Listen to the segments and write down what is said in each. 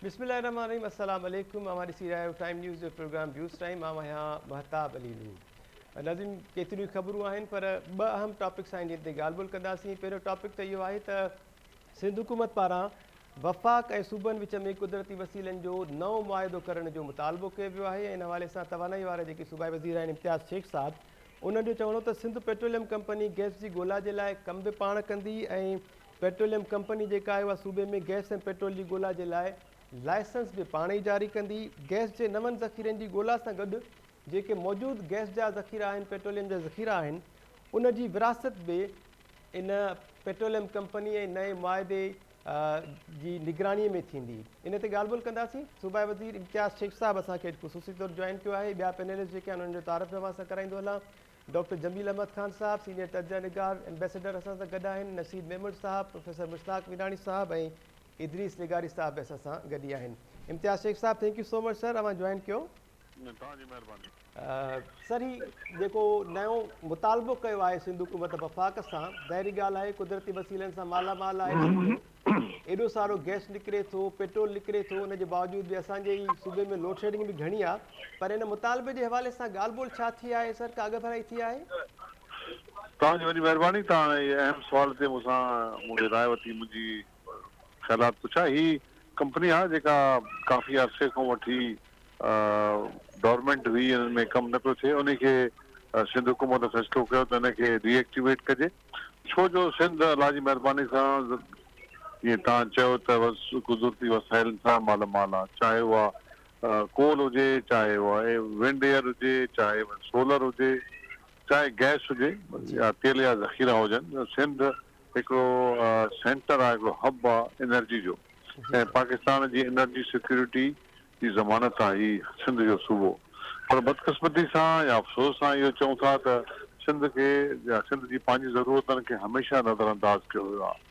بسم الله الرحمٰن الرحيم السلام عليڪم اوهان ڏسي رهيا آهيو ٽائيم نيوز جو پروگرام بيوز ٽائيم آئون آهيان مهتاب علي نور ناظرين ڪيتريون خبرون آهن پر ٻه اهم ٽاپڪس آهن جن تي ڳالهه ٻولهه ڪنداسين پهريون ٽاپڪ ته اهو آهي ته سنڌ حڪومت پاران وفاق ۽ صوبن وچ ۾ قدرتي وسيلن جو نئون معاهدو ڪرڻ جو مطالبو ڪيو ويو آهي ان حوالي سان توانائي وارا جيڪي صوبائي وزير آهن امتياز شيخ صاحب انهن جو چوڻ هو ته سنڌ پيٽروليم ڪمپني گيس جي ڳولا جي لاء ڪم به پاڻ ڪندي ۽ پيٽروليم ڪمپني جيڪا آهي اها صوبي ۾ گئس ۽ پيٽرول جي ڳولا جي لاء لائسنس به پاڻ ئي جاري ڪندي، گئس جي نون ذخيرن جي ڳولا سان گڏ جيڪي موجود گئس جا ذخيرا آهن، پيٽروليم جا ذخيرا آهن ان جي ورهاست به ان پيٽروليم ڪمپني ۽ نئين معاهدي جي نگراني ۾ ٿيندي ان تي ڳالهه ٻولهه ڪنداسين صوبائي وزير امتياز شيخ صاحب اسان کي اڄ خصوصي طور جوائن ڪيو آهي ٻيا پينلسٽ جيڪي آهن انهن جو تعارف به اوهان سان ڪرائيندو هلان ڊاڪٽر جميل احمد خان صاحب، سينيئر تجزئه نگار ايمبيسيڊر اسان سان گڏ آهن، نشيد ميمڻ صاحب، پروفيسر مشتاق ميراڻي صاحب ۽ ادريس لغاري صاحب به اسان سان گڏ ئي آهن. امتياز شيخ صاحب thank you so much sir اوهان جوائن ڪيو. توهان جي مهرباني. سر هي جيڪو نيون مطالبو ڪيو آهي سنڌ حڪومت وفاق سان ظاهري ڳالهه آهي قدرتي وسيلن سان مالا مال آهي سنڌ. ايڏو سارو گئس نڪري ٿو، پيٽرول نڪري ٿو ان جي باوجود به اسان جي ئي صوبي ۾ لوڊشيڊنگ به گهڻي آهي پر ان مطالبي جي حوالي سان ڳالهه ٻولهه ڇا ٿي آهي سر ڪا اڳڀرائي ٿي آهي؟ توهان جي وڏي مهرباني توهان هي اهم سوال تي مون سان مون کي راء وٺي منهنجي خيالات پڇا هي ڪمپني آهي جيڪا ڪافي عرصي کان وٺي ڊورمينٽ هئي ان ۾ ڪم نه پيو ٿئي انهي کي سنڌ حڪومت فيصلو ڪيو ته ان کي ري ايڪٽيويٽ ڪجي ڇو جو سنڌ الله جي مهرباني سان جيئن توهان چيو ته قدرتي وسائلن سان مالا مال آهي چاهي اها ڪول هجي چاهي اها ونڊ ايئر هجي چاهي سولر هجي چاهي گئس هجي يا تيل جا ذخيرا هجن سنڌ هڪڙو سينٽر آهي هڪڙو هب آهي انرجي جو ۽ پاڪستان جي انرجي سيڪيورٽي جي ضمانت سان هي سنڌ جو صوبو پر بدقسمتي سان يا افسوس سان اهو چئون ٿا ته سنڌ کي يا سنڌ جي پنهنجي ضرورتن کي هميشه نظرانداز ڪيو ويو آهي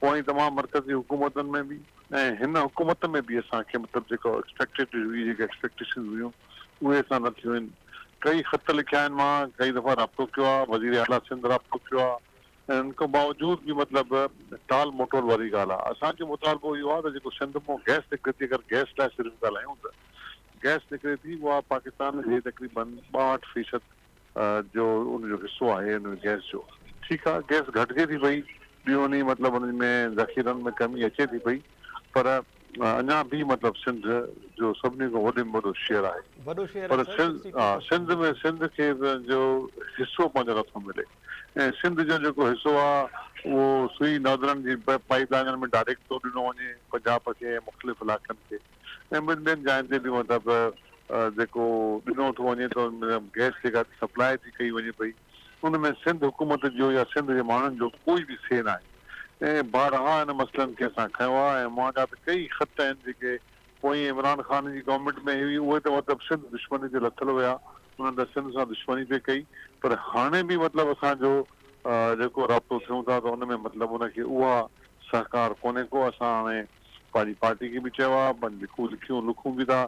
اوهين تمام مرڪزي حڪومتن ۾ به ۽ هن حڪومت ۾ به اسان کي مطلب جيڪا ايڪسپيڪٽيڊ هئي جيڪي ايڪسپيڪٽيشنز هيون اهي اسان نه ٿيون آهن ڪئي خط لکيا آهن مان ڪئي دفعا رابطو ڪيو آهي وزير اعليٰ سنڌ رابطو ڪيو آهي ان کان باوجود به مطلب ٽال مٽول واري ڳالهه آهي اسان جو مطالبو اهو آهي ته جيڪو سنڌ مان گئس نڪري ٿي اگر گئس لاء صرف ڳالهايون ته گئس نڪري ٿي اها پاڪستان جي تقريبن ٻاهٺ فيصد جو ان جو حصو آهي ان ۾ گئس جو ٺيڪ آهي گئس گهٽجي ٿي پئي ڏينهون ڏينهن مطلب ان ۾ ذخيرن ۾ ڪمي اچي ٿي پئي پر اڃا بي مطلب سنڌ جو سڀني کان وڏي ۾ وڏو شعر آهي. وڏو شعر آهي پر سائين سنڌ ها سنڌ ۾ سنڌ کي پنهنجو حصو پنهنجو نٿو ملي ۽ سنڌ جو جيڪو حصو آ اهو سوئي نادرن جي پائيپ لائنن ۾ ڊائريڪٽ ٿو ڏنو وڃي پنجاب کي ۽ مختلف علائقن کي ۽ ٻين ٻين جاين تي به مطلب جيڪو ڏنو ٿو وڃي ته ان ۾ گيس جيڪا سپلاء ٿي ڪئي وڃي پئي ان ۾ سنڌ حڪومت جو يا سنڌ جي ماڻهن جو ڪوئي به سي ناهي. ائين بارها ان مسئلن کي اسان کنيو آهي ۽ مهانگا ته ڪيئي خط آهن جيڪي پوئين عمران خان جي گورنمينٽ ۾ هئي اهي ته مطلب سنڌ دشمني تي لٿل هيا انهن ته سنڌ سان دشمني پئي ڪئي پر هاڻي به مطلب اسان جو جيڪو رابطو ٿيون ٿا ته ان ۾ مطلب ان کي اها سهڪار ڪونهي ڪو اسان هاڻي پنهنجي پارٽي کي به چيو آهي پنهنجي لکون لکون به ٿا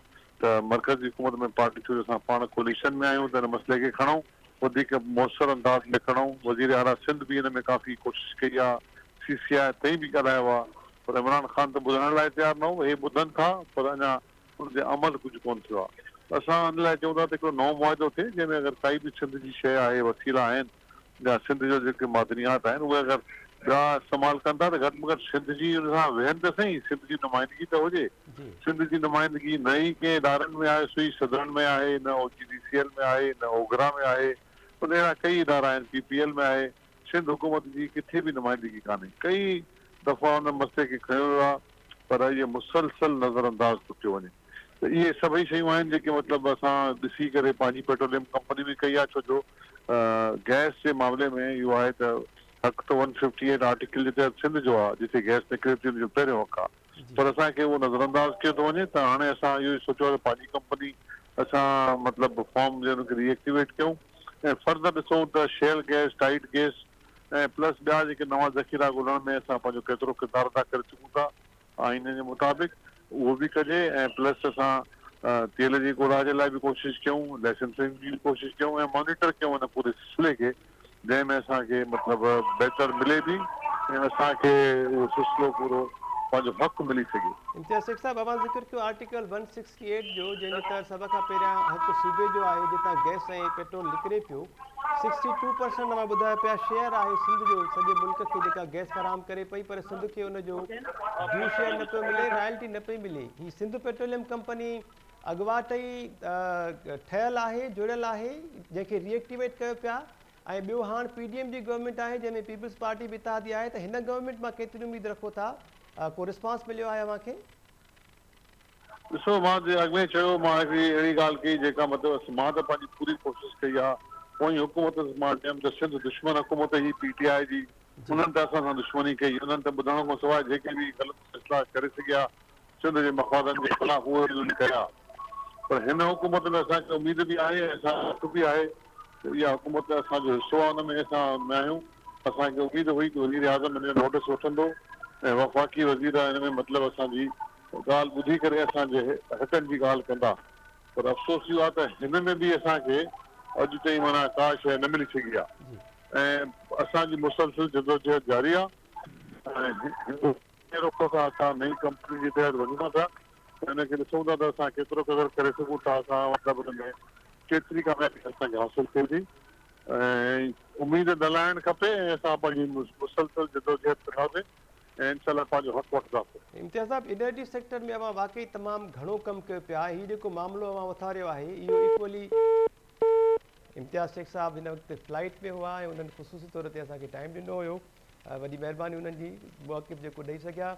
ته مرڪز جي حڪومت ۾ پارٽي ڇو جو اسان پاڻ ڪوئليشن ۾ آهيون ته ان مسئلي کي کڻئون وڌيڪ موثر انداز ۾ کڻئون وزير اعليٰ سنڌ به ان ۾ ڪافي ڪوشش ڪئي آ سي سي آء تائين به ڳالهايو آ پر عمران خان ته ٻڌڻ لاء تيار نه هو هي ٻڌن ٿا پر اڃا ان تي عمل ڪجهه ڪون ٿيو آ ته اسان ان لاء چئون ٿا ته هڪڙو نئون معاهدو ٿئي جنهن ۾ اگر ڪائي به سنڌ جي شيء آهي وسيلا آهن جا سنڌ جا جيڪي معدنيات آهن اهي اگر ٻيا استعمال ڪن ٿا ته گهٽ ۾ گهٽ سنڌ جي ان سان ويهن ته سهي سنڌ جي نمائندگي ته هجي سنڌ جي نمائندگي نه ئي ڪنهن ادارن ۾ آهي سوئي سڌرن ۾ آهي نه O G D C L ۾ آهي نه اوگرا ۾ آهي ان اهڙا ڪئي ادارا آهن پي پي ايل ۾ آهي سنڌ حڪومت جي ڪٿي به نمائندگي ڪانهي ڪئي دفعا ان مسئلي کي کنيو ويو آهي پر اهي مسلسل نظرانداز ٿو ٿيو وڃي ته اهي سڀئي شيون آهن جيڪي مطلب اسان ڏسي ڪري پنهنجي پيٽروليم ڪمپني به ڪئي آهي ڇو جو گئس جي معاملي ۾ اهو آهي ته حق ته ون ففٽي ايٽ آرٽيڪل جي تحت سنڌ جو آهي جتي گئس نڪري ٿي ان جو پهريون حق آهي پر اسان کي اهو نظرانداز ڪيو ٿو وڃي ته هاڻي اسان اهو ئي سوچيو آهي ته پنهنجي ڪمپني اسان مطلب فارم جي ان کي ري ايڪٽيويٽ ڪيون ۽ فرد ڏسون ته shale gas tight gas ۽ plus ٻيا جيڪي نوان ذخيرا ڳولڻ ۾ اسان پنهنجو ڪيترو ڪردار ادا ڪري سگهون ٿا آئين جي مطابق اهو به ڪجي ۽ پلس اسان تيل جي ڳوڙها جي لاء به ڪوشش ڪيون لائسنسنگ جي به ڪوشش ڪيون ۽ مانيٽر ڪيون ان پوري سلسلي کي جنهن ۾ اسان کي مطلب بهتر ملي به ۽ اسان کي اهو سلسلو پورو پنهنجو حق ملي سگهي. امتياز سيٺ صاحب اوهان ذڪر ڪيو آرٽيڪل ون سڪس ڪيٽ جو جنهن جو ڪر سڀ کان پهريان هڪ صوبي جو آهي جتان گئس ۽ پيٽرول نڪري پيو سڪسٽي ٽو پرسنٽ اوهان ٻڌايو پيا شيئر آهي سنڌ جو سڄي ملڪ کي جيڪا گئس فراهم ڪري پئي پر سنڌ کي ان جو ڊيو شيئر نه پيو ملي رائلٽي نه پئي ملي هي سنڌ پيٽروليم ڪمپني اڳواٽ ئي ٺهيل آهي جڙيل آهي جنهن کي ري ايڪٽيويٽ ڪيو پيا ۽ ٻيو هاڻ پي ڊي ايم جي گورنمينٽ آهي جنهن ۾ پيپلز پارٽي به اتحادي آهي ته هن گورنمينٽ مان ڪيتري اميد رکو ٿا ڪو رسپانس مليو آهي اوهان کي ڏسو مان جيئن اڳ ۾ ئي چيو مان هڪڙي اهڙي ڳالهه ڪئي جيڪا مطلب مان ته پنهنجي پوري ڪوشش ڪئي آ اوهين حڪومت مان چيم ته سنڌ دشمن حڪومت هي پي ٽي آء جي انهن ته اسان سان دشمني ڪئي انهن ته ٻڌڻ کان سواء جيڪي به غلط فيصلا ڪري سگهيا سنڌ جي مفادن جي خلاف اهي انهن ڪيا پر هن حڪومت ۾ اسان کي اميد به آهي ۽ اسان کي پڪ به آهي ته اها حڪومت اسان جو حصو آ ان ۾ اسان نه آهيون اسان کي اميد هئي ته وزيراعظم ان جو نوٽس وٺندو ۽ وفاقي وزير ان ۾ مطلب اسان جي ڳالهه ٻڌي ڪري اسان جي حقن جي ڳالهه ڪندا پر افسوس اهو آهي ته هن ۾ به اسان کي اڄ تائين معنيٰ ڪا شيء نه ملي سگهي آهي ۽ اسان جي مسلسل جدوجهد جاري آهي ۽ هندوستان نئين رخ سان اسان نئين ڪمپنين جي تحت وڃون ٿا پيا ته ان کي ڏسون ٿا ته اسان ڪيترو قدر ڪري سگهون ٿا اسان مطلب ان ۾ ڪيتري ڪاميابي اسان کي حاصل ٿئي ٿي ۽ اميد نه لاهڻ کپي ۽ اسان پنهنجي مسلسل جدوجهد ڪنداسين ۽ انشاء الله پنهنجو حق وٺنداسين. امتياز صاحب انرجي سيڪٽر ۾ اوهان واقعي تمام گهڻو ڪم ڪيو پيا آهي هي جيڪو معاملو اوهان اٿاريو آهي اهو ايڪولي امتياز شيخ صاحب هن وقت فلائيٽ ۾ هئا ۽ انهن خصوصي طور تي اسان کي ٽائيم ڏنو هيو وڏي مهرباني انهن جي موقف جيڪو ڏئي سگهيا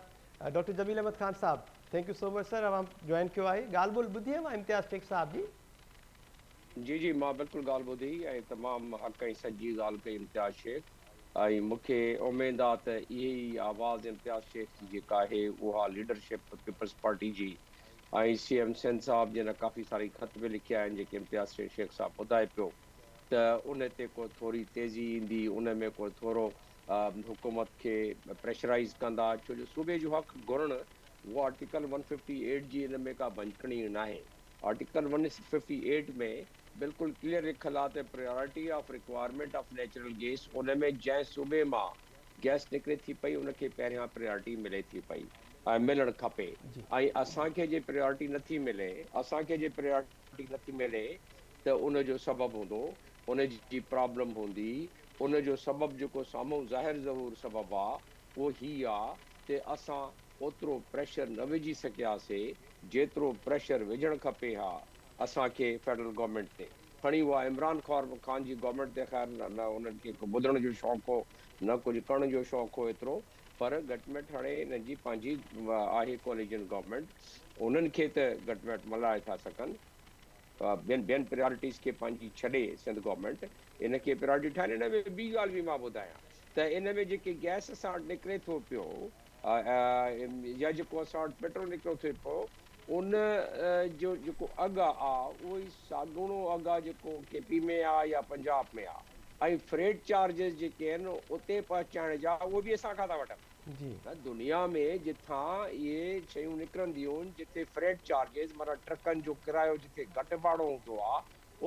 ڊاڪٽر جميل احمد خان صاحب thank you so much sir اوهان جوائن ڪيو آهي ڳالهه ٻولهه ٻڌي اوهان امتياز شيخ صاحب جي جي جي مان بلڪل ڳالهه ٻڌي ۽ تمام حق ۽ سچ جي ڳالهه ڪئي امتياز شيخ. ۽ مون کي اميد آ ته اهي ئي آواز امتياز شيخ جي جيڪا آهي اها ليڊرشپ پيپلز پارٽي جي ۽ سي ايم سيند صاحب جنھن ڪافي ساري خط به لکيا آهن جيڪي امتياز سين شيخ صاحب ٻڌائي پيو ته ان تي ڪو ٿوري تيزي ايندي ان ۾ ڪو ٿورو حڪومت کي پريشرائيز ڪندا ڇو جو صوبي جو حق گهرڻ اهو آرٽيڪل ون ففٽي ايٽ جي ان ۾ ڪا ڀڃڪڻي ناهي. Article one hundred fifty eight ۾ بلڪل ڪليئر لکيل آ ته priority of requirement of natural gas ان ۾ جنهن صوبي مان گيس نڪري ٿي پئي ان کي پهريان پريارٽي ملي ٿي پئي ۽ ملڻ کپي ۽ اسان کي جي پريارٽي نٿي ملي اسان کي جي پريارٽي نٿي ملي ته ان جو سبب هوندو ان جي پرابلم هوندي ان جو سبب جيڪو سامهون ظاهر ظهور سبب آ اهو هي آ ته اسان اوترو پريشر نه وجهي سگهياسي جيترو پريشر وجهڻ کپي ها اسان کي فيڊرل گورنمينٽ تي کڻي اها عمران خان جي گورنمينٽ تي خير نه انهن کي ٻڌڻ جو شوق هو نه ڪجهه ڪرڻ جو شوق هو ايترو پر گهٽ ميٽ هاڻي انهن جي پنهنجي آهي ڪواليجن گورنمينٽ انهن کي ته گهٽ ميٽ ملهائي ٿا سگهن ٻين ٻين پريارٽيز کي پنهنجي ڇڏي سنڌ گورنمينٽ ان کي پريارٽي ٺاهين ان ۾ ٻي ڳالهه به مان ٻڌايان ته ان ۾ جيڪي گئس اسان وٽ نڪري ٿو پيو يا جيڪو اسان وٽ پيٽرول نڪريو ٿي پيو ان جو جيڪو اگهه آ اهو ئي ساڳوڻو اگهه آ جيڪو ڪي پي ۾ آ يا پنجاب ۾ آ ۽ فريٽ چارجز جيڪي آهن اتي پهچائڻ جا اهي به اسان کان ٿا وٺن ته دنيا ۾ جتان اهي شيون نڪرنديون جتي فريٽ چارجز معنيٰ ٽرڪن جو ڪرايو جتي گهٽ ڀاڙو هوندو آ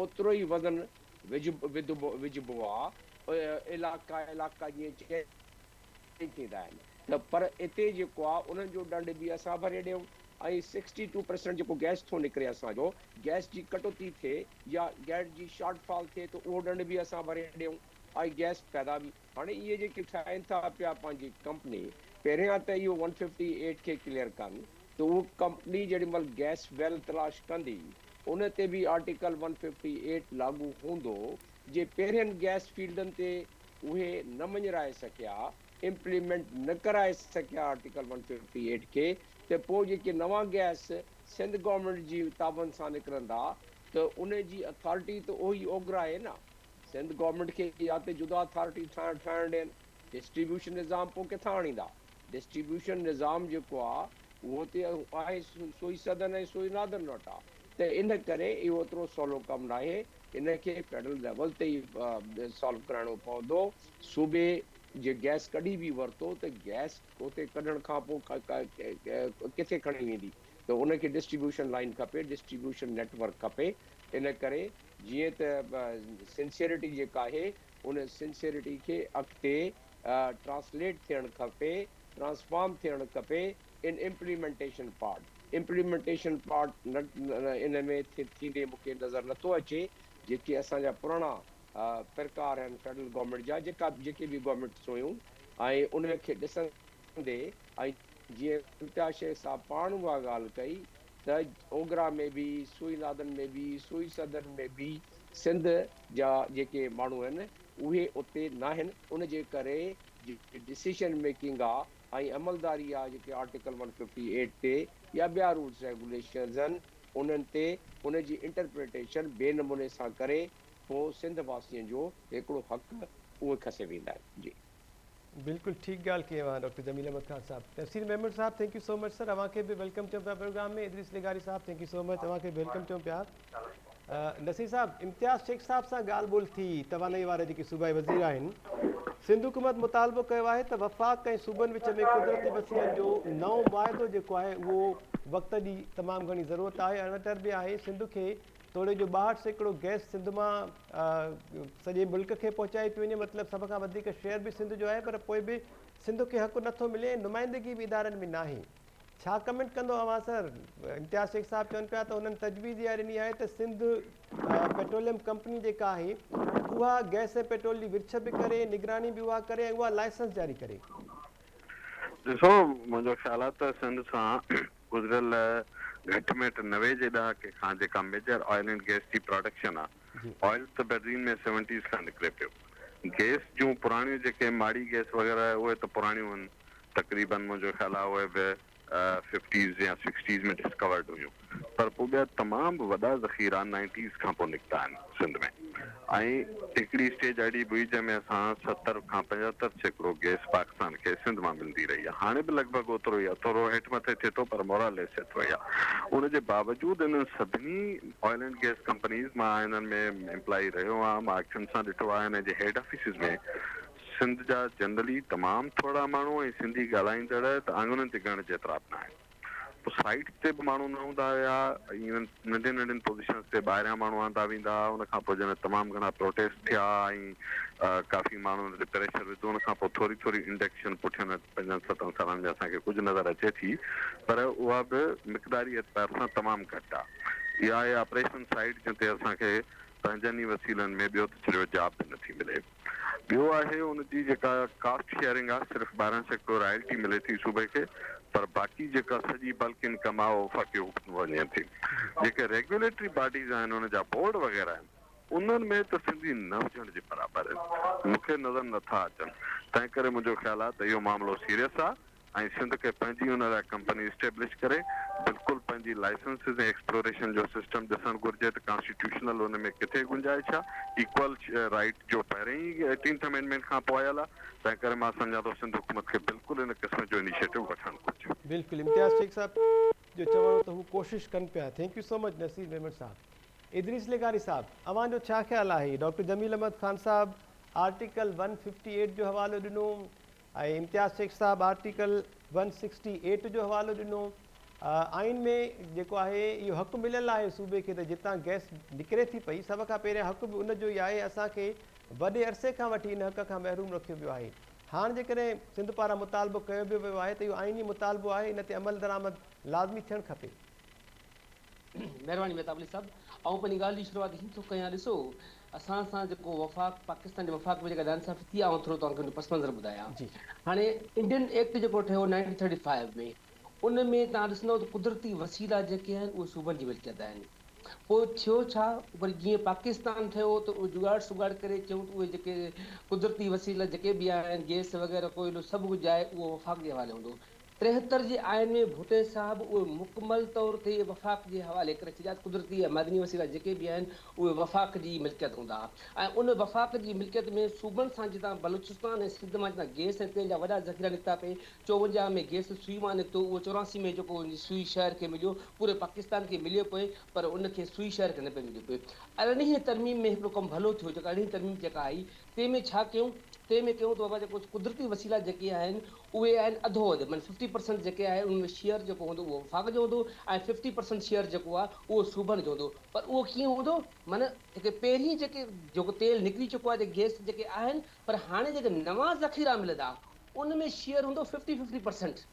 اوترو ئي وزن وجهبو آ علائقا علائقا جيئن چئجي ائين ٿيندا آهن ته پر اتي جيڪو آهي انهن جو ڏنڊ به اسان ڀري ڏيون ۽ سڪسٽي ٽو پرسنٽ جيڪو گئس ٿو نڪري اسان جو گئس جي ڪٽوتي ٿئي يا گئس جي شارٽ فال ٿئي ته اهو ڏنڊ به اسان ڀري ڏيون ۽ گئس پيدا به هاڻي اهي جيڪي ٺاهين ٿا پيا پنهنجي ڪمپني پهريان ته اهو ون ففٽي ايٽ کي ڪليئر ڪن ته اهو ڪمپني جيڏي مهل گئس ويل تلاش ڪندي ان تي به آرٽيڪل ون ففٽي ايٽ لاڳو هوندو جي پهرين گئس فيلڊن تي اهي نه مڃرائي سگهيا، امپليمينٽ نه ڪرائي سگهيا آرٽيڪل ون ففٽي ايٽ کي ته پوء جيڪي نوان گئس سنڌ گورنمينٽ جي تعاون سان نڪرندا ته ان جي اٿارٽي ته اهوئي اوگرا اهي نه. سنڌ گورنمينٽ کي يا ته جدا اٿارٽي ٺاهڻ ٺاهڻ ڏين، ڊسٽريبيوشن نظام پوء ڪٿان آڻيندا؟ ڊسٽريبيوشن نظام جيڪو آ اهو ته آهي سوئي سدن ۽ سوئي نادن وٽ آ ته ان ڪري اهو ايترو سولو ڪم ناهي. ان کي فيڊرل ليول تي ئي سالو ڪرائڻو پوندو، صوبي جي گئس ڪڍي به ورتو ته گئس اتي ڪڍڻ کانپو ڪٿي کڻي ويندي ته ان کي ڊسٽريبيوشن لائين کپي، ڊسٽريبيوشن نيٽ ورڪ کپي، ان ڪري جيئن ته سنسيئرٽي جيڪا آهي ان سنسيئرٽي کي اڳتي ٽرانسليٽ ٿيڻ کپي، ٽرانسفارم ٿيڻ کپي، ان امپليمينٽيشن پارٽ Implementation Part ان ۾ ٿيندي مون کي نظر نٿو اچي جيڪي اسان جا پراڻا پرڪار آهن فيڊرل گورنمينٽ جا جيڪا جيڪي به گورنمينٽس هيون ۽ ان کي ڏسندي ۽ جيئن امتياز شيخ صاحب پاڻ اها ڳالهه ڪئي ته اوگرا ۾ به سوئي نادن ۾ به سوئي سدن ۾ به سنڌ جا جيڪي ماڻهو آهن اهي اتي ناهن ان جي ڪري جيڪي ڊسيشن ميڪنگ آهي ۽ عملداري يا جيڪي آرٽيڪل ون ففٽي ايٽ تي يا ٻيا رولز ريگوليشنز هن انهن تي ان جي انٽرپريٽيشن بي نموني سان ڪري ٿو سنڌ واسين جو هيڪڙو حق اهي کسي ويندا آهن جي. بلڪل ٺيڪ ڳالھ ڪئي اوھان ڊاڪٽر جميل احمد خان صاحب. تفسير محمد صاحب thank you so much sir اوھان کي به ويلڪم چئون پيا پروگرام ۾ ادريس لغاري صاحب ٿينڪ يو سو مچ اوھان کي به ويلڪم چئون پيا. نصير صاحب امتياز شيخ صاحب سان ڳالهه ٻولهه ٿي توانائي وارا جيڪي صوبائي وزير آهن سنڌ حڪومت مطالبو ڪيو آهي ته وفاق ۽ صوبن وچ ۾ قدرتي وسيلن جو نئون معاهدو جيڪو آهي اهو وقت جي تمام گهڻي ضرورت آهي اربيٽر به آهي سنڌ کي توڙي جو ٻاهٺ سيڪڙو گئس سنڌ مان سڄي ملڪ کي پهچائي پيو وڃي مطلب سڀ کان وڌيڪ شيئر به سنڌ جو آهي پر پوء به سنڌ کي حق نٿو ملي نمائندگي به ادارن ۾ ناهي ڇا ڪمينٽ ڪندو اوهان سر امتياز شيخ صاحب چون پيا ته هنن تجويز اها ڏني آهي ته سنڌ پيٽروليم ڪمپني جيڪا آهي اها گئس ۽ پيٽرول جي ورڇ به ڪري نگراني به اها ڪري ۽ اها لائسنس جاري ڪري ڏسو منهنجو خيال آهي ته سنڌ سان گذريل گهٽ ميٽ نوي جي ڏهاڪي کان جيڪا ميجر آئل اينڊ گئس جي پراڊڪشن آهي آئل ته بهترين ۾ سيونٽيز کان نڪري پيو. گئس جون پراڻيون جيڪي ماڙي گئس وغيره اهي ته پراڻيون هن تقريبن منهنجو خيال آهي اهي به ففٽيز يا سڪسٽيز ۾ ڊسڪورڊ هيون پر پوء ٻيا تمام به وڏا ذخيرا نائنٽيز کان پوء نڪتا آهن سنڌ ۾ ۽ هڪڙي اسٽيج اهڙي به هئي جنهن ۾ اسان ستر کان پنجهتر سيڪڙو گئس پاڪستان کي سنڌ مان ملندي رهي آهي هاڻي به لڳ ڀڳ اوترو ئي آهي ٿورو هيٺ مٿي ٿئي ٿو پر موراليس ايترو ئي آهي ان جي باوجود انهن سڀني آئل اينڊ گيس ڪمپنيز مان انهن ۾ امپلائي رهيو آهيان مان اکين سان ڏٺو آهي انهن جي هيڊ آفيسز ۾ سنڌ جا جنرلي تمام ٿورا ماڻهو ۽ سنڌي ڳالهائيندڙ ته آڱرين تي ڳڻڻ جيترا به ناهن پوء سائيٽس تي به ماڻهو نه هوندا هيا ايون ننڍين ننڍين پوزيشنز تي ٻاهريان ماڻهو آندا ويندا هئا ان کان پوء جڏهن تمام گهڻا پروٽيسٽ ٿيا ۽ ڪافي ماڻهن تي پريشر وڌو ان کان پوء ٿوري ٿوري انڊڪشن پٺيان پنجن ستن سالن ۾ اسان کي ڪجهه نظر اچي ٿي پر اها به مقداري اعتبار سان تمام گهٽ آ. اها آهي آپريشن سائيٽ جنهن تي اسان کي پنهنجن ئي وسيلن ۾ ٻيو ته ڇڏيو جاب به نٿي ملي. ٻيو آهي ان جي جيڪا ڪاسٽ شيئرنگ آ صرف ٻارهن سيڪڙو رائلٽي ملي ٿي صوبي کي پر باقي جيڪا سڄي بلڪ انڪم آ اها وفاقي حڪومت وڃي ٿي. جيڪي ريگيوليٽري باڊيز آهن ان جا بورڊ وغيره آهن. انهن ۾ ته سنڌي نه هجڻ جي برابر مون کي نظر نه ٿا اچن، تنهن ڪري منهنجو خيال آهي ته اهو معاملو سيريس آهي ۽ سنڌ کي پنهنجي ان لاء ڪمپني اسٽيبلش ڪري بلڪل پنهنجي لائسنسز ۽ ايڪسپلوريشن جو سسٽم ڏسڻ گهرجي ته ڪانسٽيٽيوشنل ان ۾ ڪٿي گنجائش آهي ايڪول رائيٽ جو پهرين ئي ايٽينٿ امينڊمينٽ کان پوء آيل آهي، تنهن ڪري مان سمجهان ٿو سنڌ حڪومت کي بلڪل ان قسم جو انيشيٽو وٺڻ گهرجي. بلڪل امتياز شيخ صاحب جو چوڻ هو ته هو ڪوشش ڪن پيا thank you so much Naseer Memon صاحب. ادريس لغاري صاحب اوهان جو ڇا خيال آهي؟ ڊاڪٽر جميل احمد خان صاحب آرٽيڪل ون ففٽي ايٽ جو حوالو ڏنو ۽ امتياز شيخ صاحب آرٽيڪل ون سڪسٽي ايٽ جو حوالو ڏنو آئين ۾ جيڪو آهي اهو حق مليل آهي صوبي کي ته جتان گئس نڪري ٿي پئي سڀ کان پهريان حق به ان جو ئي آهي اسان کي وڏي عرصي کان وٺي ان حق کان محروم رکيو ويو آهي هاڻ جيڪڏهن سنڌ پاران مطالبو ڪيو به ويو آهي ته اهو آئيني مطالبو آهي ان تي عملدرآمد لازمي ٿيڻ کپي مھرباني مھتاب علي صاحب آئون پنھنجي ڳالھ جي شروعات ھن ٿو ڪيان ڏسو اسان سان جيڪو وفاق پاڪستان جي وفاق ۾ جيڪا ناانصافي ٿي آئون ٿورو توھان کي ان جو پس منظر ٻڌايان جي ھاڻي انڊين ايڪٽ جيڪو ٺھيو نائنٽين ٿرٽي فائيو ۾ ان ۾ توھان ڏسندو ته قدرتي وسيلا جيڪي آھن اھي صوبن جي ملڪيت آھن پوء ٿيو ڇا وري جيئن پاڪستان ٺھيو ته اھي جگاڙ سگاڙ ڪري چيون ته اھي جيڪي قدرتي وسيلا جيڪي به آھن گيس وغيره ڪوئلو سڀ ڪجھ آھي اھو وفاق جي حوالي ھوندو ٽيهتر جي آئين ۾ ڀٽي صاحب اهي مڪمل طور تي وفاق جي حوالي ڪري ڇڏيا ته قدرتي ۽ معدني وسيلا جيڪي به آهن اهي وفاق جي ملڪيت هوندا ۽ ان وفاق جي ملڪيت ۾ صوبن سان جتان بلوچستان ۽ سنڌ مان جتان گيس ۽ تيل جا وڏا ذخيرا نڪتا پي چوونجاهه ۾ گيس سوئي مان نڪتو اهو چوراسي ۾ جيڪو سوئي شهر کي مليو پوري پاڪستان کي مليو پئي پر ان کي سوئي شهر کي نه پئي مليو پئي ارڙهين ترميم ۾ هڪڙو ڪم ڀلو ٿيو جيڪا ارڙهين ترميم جيڪا آئي تنهن ۾ ڇا ڪيون؟ تنهن ۾ ڪيون ته بابا جيڪو قدرتي وسيلا جيڪي آهن اهي آهن اڌو اڌ معنيٰ ففٽي پرسنٽ جيڪي آهي ان ۾ شيئر جيڪو هوندو اهو وفاق جو هوندو ۽ ففٽي پرسنٽ شيئر جيڪو آهي اهو صوبن جو هوندو پر اهو ڪيئن هوندو معنيٰ جيڪي پهرين جيڪي جيڪو تيل نڪري چڪو آهي جيڪي گيس جيڪي آهن پر هاڻي جيڪي نوان ذخيرا ملندا ان ۾ شيئر هوندو ففٽي ففٽي پرسنٽ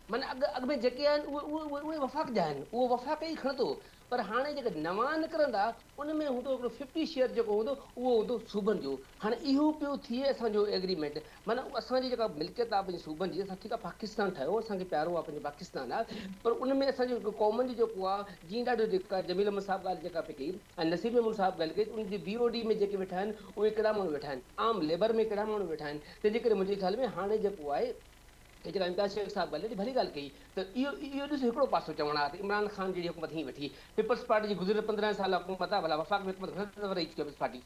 معنيٰ اڳ اڳ ۾ جيڪي آهن اهي اهي اهي وفاق جا آهن اهو وفاق ئي کڻندو پر هاڻي جيڪي نوان نڪرندا ان ۾ هوندو هڪڙو ففٽي شيئر جيڪو هوندو اهو هوندو صوبن جو هاڻي اهو پيو ٿئي اسان جو ايگريمينٽ معنيٰ اسان جي جيڪا ملڪيت آهي پنهنجي صوبن جي اسان ٺيڪ آهي پاڪستان ٺاهيو اسان کي پيارو آهي پنهنجو پاڪستان آهي پر ان ۾ اسان جي هڪ قومن جو جيڪو آهي جيئن ڏاڍو جيڪا جميل احمد صاحب ڳالهه جيڪا پئي ڪئي ۽ نصير محمود صاحب ڳالهه ڪئي ته ان جي بي او ڊي ۾ جيڪي ويٺا آهن اهي ڪهڙا ماڻهو ويٺا آهن عام ليبر ۾ ڪهڙا ماڻهو ويٺا آهن تنهنجي ڪري منهنجي خيال ۾ هاڻي جيڪو آهي ته جناب امتياز شيخ صاحب ڳالهه ڏاڍي ڀلي ڳالهه ڪئي ته اهو اهو ڏسو هڪڙو پاسو چوڻ آ ته عمران خان جهڙي حڪومت هيئن ويٺي پيپلز پارٽي جي گذريل پندرهن سال حڪومت آ ڀلا وفاق ۾ حڪومت گهڻا دفعا رهي چڪي آ پيپلز پارٽي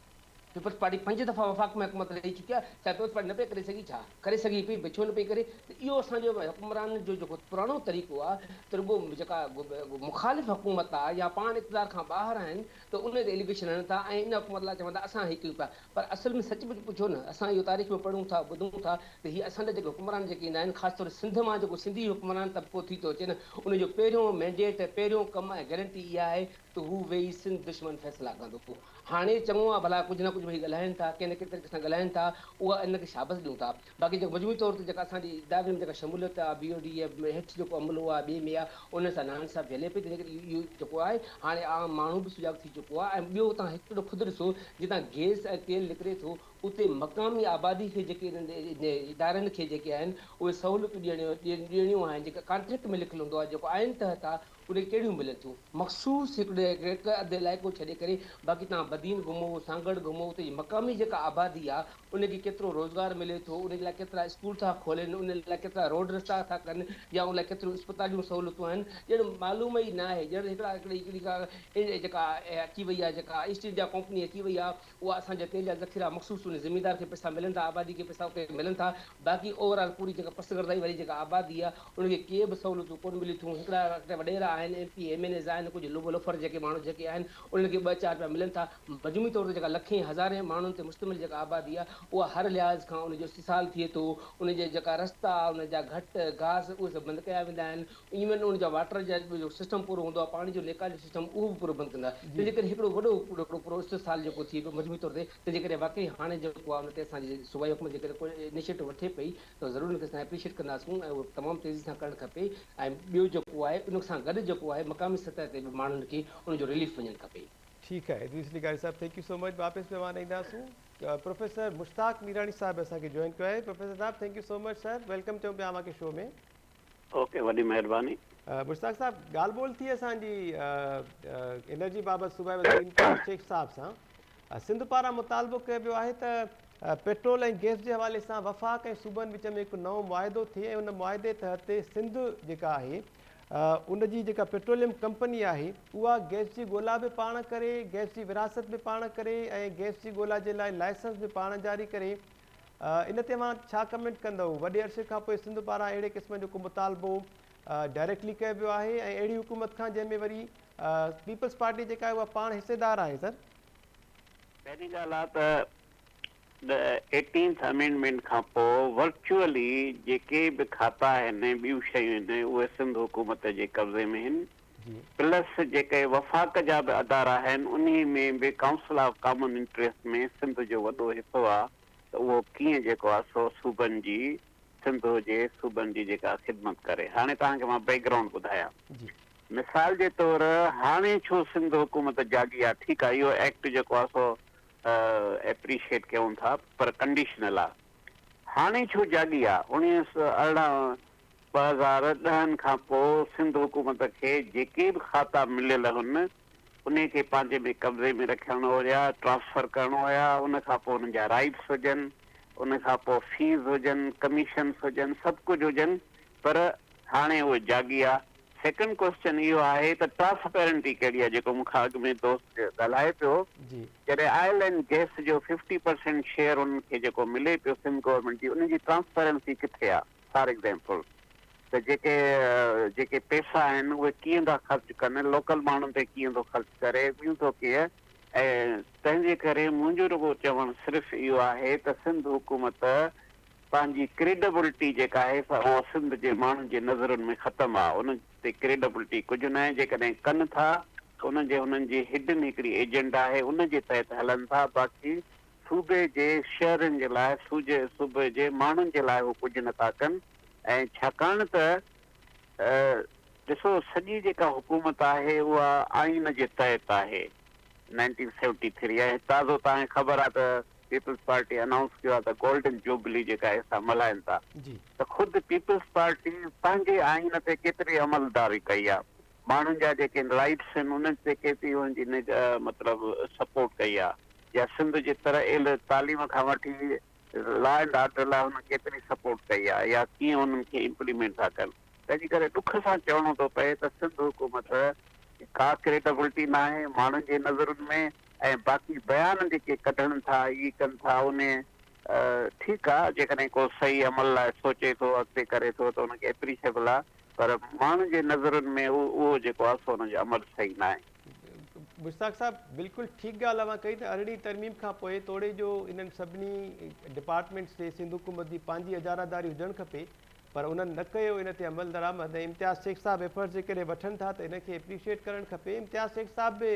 پيپلز پارٽي پنج دفعا وفاق ۾ حڪومت رهي چڪي آ ڇا پيپلز پارٽي نه پئي ڪري سگهي ڇا ڪري سگهي پئي ڀي ڇو نه پئي ڪري ته اهو اسان جو حڪمرانن جو جيڪو پراڻو طريقو آ ته رڳو جيڪا مخالف حڪومت آ يا پاڻ اقتدار کان ٻاهر آهن ته ان تي ايليگيشن هڻن ٿا ۽ ان حڪومت لاء چون ٿا اسان هي ڪيون پيا پر اصل ۾ سچ پچ پڇو نه اسان اهو تاريخ ۾ پڙهون ٿا ٻڌون ٿا ته هي اسان ڏانهن جيڪي حڪمران جيڪي ايندا آهن خاص طور سنڌ مان جيڪو سنڌي حڪمران طبقو ٿي ٿو اچي نه ان جو پهريون مينڊيٽ پهريون ڪم ۽ گرنٽي اها آهي ته هو ويهي سنڌ دشمن فيصلا ڪندو هاڻي چڱو آهي ڀلا ڪجهه نه ڪجهه ويهي ڳالهائين ٿا ڪنهن نه ڪنهن طريقي سان ڳالهائين ٿا اها انهن کي شابس ڏيون ٿا باقي جيڪو مجموعي طور تي جيڪا اسان جي ادارن ۾ جيڪا شموليت آ، بي او ڊي اي ۾ هيٺ جيڪو عملو آ، ٻئي ۾ آ، ان سان ناهن صاحب جهلي پئي تنهنڪري اهو اهو جيڪو آهي هاڻي عام ماڻهو به سجاڳ ٿي چڪو آ ۽ ٻيو تان هڪڙو خود ڏسو جتان گئس ۽ تيل نڪري ٿو اتي مقامي آبادي کي جيڪي انهن ادارن کي جيڪي آهن اهي سهولتون ڏيڻيون ڏيڻيون آهن جيڪا ڪانٽريڪٽ ۾ لکيل هوندو آ جيڪو آئين تحت آ اڙي ڪهڙيون ملتون؟ مخصوص هڪڙو هڪ اڌ علائقو ڇڏي ڪري باقي توهان بدين گهمو، سانگهڙ گهمو اتي جي مقامي جيڪا آبادي آ ان کي ڪيترو روزگار ملي ٿو، ان جي لاء ڪيترا اسڪول ٿا کولين، ان لاء ڪيترا روڊ رستا ٿا ڪن يا ان لاء ڪيتريون اسپتال جون سهولتون آهن ڄڻ معلوم ئي ناهي ڄڻ هڪڙا هڪڙي هڪڙي ڪا جيڪا اچي وئي آ جيڪا ايسٽ انڊيا ڪمپني اچي وئي آ اها اسان جا تيل جا ذخيرا مخصوص انهي زميندار کي پئسا ملن ٿا آبادي کي پئسا کي ملن ٿا باقي اوور آل پوري جيڪا پسگردائي واري جيڪا آبادي آ ان کي ڪي به سهولتون ڪون ملي ٿيون هڪڙا اٽي وڏيرا آهن M P M N As آهن ڪجهه لوڀ لوفر جيڪي ماڻهو جيڪي آهن انهن کي ٻه چار رپيا ملن ٿا مجموعي طور تي جيڪا لکين هزارين ماڻهن تي مشتمل جيڪا آبادي آ اها هر لحاظ کان ان جو استحصال ٿئي ٿو ان جي جيڪا رستا ان جا گهٽ گاس اهي سڀ بند ڪيا ويندا آهن ايون ان جا واٽر جا جو سسٽم پورو هوندو آهي پاڻي جو نيڪال جو سسٽم اهو به پورو بند ڪندا تنهن جي ڪري هڪڙو وڏو هڪڙو پورو استحصال جيڪو ٿئي پيو مجموعي طور تي تنهن جي ڪري واقعي هاڻي جيڪو آهي ان تي اسان جي صوبائي حڪومت جيڪڏهن ڪو انيشيٽو وٺي پئي ته ضرور ان کي اسان اپريشيٽ ڪنداسون ۽ اهو تمام تيزي سان ڪرڻ کپي ۽ ٻيو جيڪو آهي ان سان گڏ جيڪو آهي مقامي سطح تي به ماڻهن کي ان جو رليف وڃڻ کپي. ٺيڪ آهي ادريس لغاري صاحب ٿينڪ يو سو مچ واپس مهمان اينداسون پروفيسر مشتاق ميراڻي صاحب اسان کي جوائن ڪيو آهي پروفيسر صاحب thank you so much sir welcome چئون پيا اوهان کي شو ۾. اوڪي وڏي مهرباني. مشتاق صاحب ڳالهه ٻولهه ٿي اسان جي انرجي بابت صوبائي وزير انقلاب شيخ صاحب سان سنڌ پاران مطالبو ڪيو ويو آهي ته پيٽرول ۽ گيس جي حوالي سان وفاق ۽ صوبن وچ ۾ هڪ نئون معاهدو ٿئي ۽ ان معاهدي تحت سنڌ جيڪا آهي ان جي جيڪا پيٽروليم ڪمپني آهي اها گيس جي ڳولا به پاڻ ڪري گيس جي ورهاست به پاڻ ڪري ۽ گيس جي ڳولا جي لاء لائسنس به پاڻ جاري ڪري ان تي اوهان ڇا ڪمينٽ ڪندؤ؟ وڏي عرصي کان پوء سنڌ پاران اهڙي قسم جو ڪو مطالبو ڊائريڪٽلي ڪيو ويو آهي ۽ اهڙي حڪومت کان جنهن ۾ وري پيپلز پارٽي جيڪا آهي اها پاڻ حصيدار آهي سر. پهرين ڳالهه آ ته ايٽينٿ امينڊمينٽ کان پوء ورچوئلي جيڪي به کاتا آهن ۽ ٻيون شيون آهن اهي سنڌ حڪومت جي قبضي ۾ آهن. پلس جيڪي وفاق جا به ادارا آهن انهي ۾ به council of common interest ۾ Sindh جو وڏو حصو آ ته اهو ڪيئن جيڪو آ سو صوبن جي سنڌ هجي صوبن جي جيڪا خدمت ڪري هاڻي توهان کي مان بيڪ گرائونڊ ٻڌايا مثال جي طور هاڻي ڇو سنڌ حڪومت جاڳي آ ٺيڪ آ اهو ايڪٽ جيڪو آ سو ايپريشيئيٽ ڪيون ٿا پر ڪنڊيشنل آ هاڻي ڇو جاڳي آ اڻيهه سؤ ارڙهن ٻه هزار ڏهن کان پوء سنڌ حڪومت کي جيڪي به کاتا مليل هن انهي کي پنهنجي ۾ قبضي ۾ رکڻ هيا ٽرانسفر ڪرڻ هيا ان کان پوء انهن جا رائيٽس هجن ان کان پوء فيز هجن ڪميشنس هجن سڀ ڪجهه هجن پر هاڻي اهي جاڳي آ سيڪنڊ ڪوئسچن اهو آهي ته ٽرانسپيرنٽي ڪهڙي آ جيڪو مون کان اڳ ۾ دوست ڳالهائي پيو جڏهن آئل اينڊ گيس جو ففٽي پرسينٽ شيئر انهن کي جيڪو ملي پيو سنڌ گورنمينٽ جي انهي جي ٽرانسپيرنسي ڪٿي آ. فار ايگزيمپل ته جيڪي جيڪي پيسا آهن اهي ڪيئن ٿا خرچ ڪن لوڪل ماڻهن تي ڪيئن ٿو خرچ ڪري ٻيون ٿو ڪيئن ۽ تنهنجي ڪري منهنجو رڳو چوڻ صرف اهو آهي ته سنڌ حڪومت پنهنجي ڪريڊبلٽي جيڪا آهي سا اها سنڌ جي ماڻهن جي نظرن ۾ ختم آهي ان تي ڪريڊبلٽي ڪجهه ناهي جيڪڏهن ڪن ٿا ته ان جي هنن جي هڊن هڪڙي ايجنڊا آهي ان جي تحت هلن ٿا باقي صوبي جي شهرين جي لاء سوجي صوبي جي ماڻهن جي لاء هو ڪجهه نه ٿا ڪن ۽ ڇاڪاڻ ته ڏسو سڄي جيڪا حڪومت آهي اها آئين جي تحت آهي نائنٽين سيونٽي ٿري ۽ تازو تان کي خبر آهي ته پيپلز پارٽي انائونس ڪيو آهي ته گولڊن جوبلي جيڪا اسان ملهائين ٿا ته خود پيپلز پارٽي پنهنجي آئين تي ڪيتري عملداري ڪئي آهي ماڻهن جا جيڪي رائيٽس آهن انهن تي ڪي پي يو جي نگ مطلب سپورٽ ڪئي آهي يا سنڌ جي تر ايل تعليم کان وٺي لا اينڊ آرڊر لاء هنن ڪيتري سپورٽ ڪئي آهي يا ڪيئن انهن کي امپليمينٽ ٿا ڪن تنهنجي ڪري ڏک سان چوڻو ٿو پئي ته سنڌ حڪومت ڪا ڪريڊبلٽي ناهي ماڻهن جي نظرن ۾ ۽ باقي بيان جيڪي ڪڍڻ ٿا اي ڪن ٿا انهي ٺيڪ آ جيڪڏهن ڪو صحيح عمل لاء سوچي ٿو اڳتي ڪري ٿو ته ان کي اپريشيبل آ پر ماڻهن جي نظرن ۾ اهو جيڪو آ سو ان جو عمل صحيح ناهي. مشتاق صاحب بلڪل ٺيڪ ڳالهه اوهان ڪئي ته ارڙهين ترميم کان پوء توڙي جو انهن سڀني ڊپارٽمينٽس تي سنڌ حڪومت جي پنهنجي اجاراداري هجڻ کپي پر انهن نه ڪيو ان تي عمل درآمد ۽ امتياز شيخ صاحب ايفرٽس جيڪڏهن وٺن ٿا ته ان کي اپريشيئيٽ ڪرڻ کپي امتياز شيخ صاحب به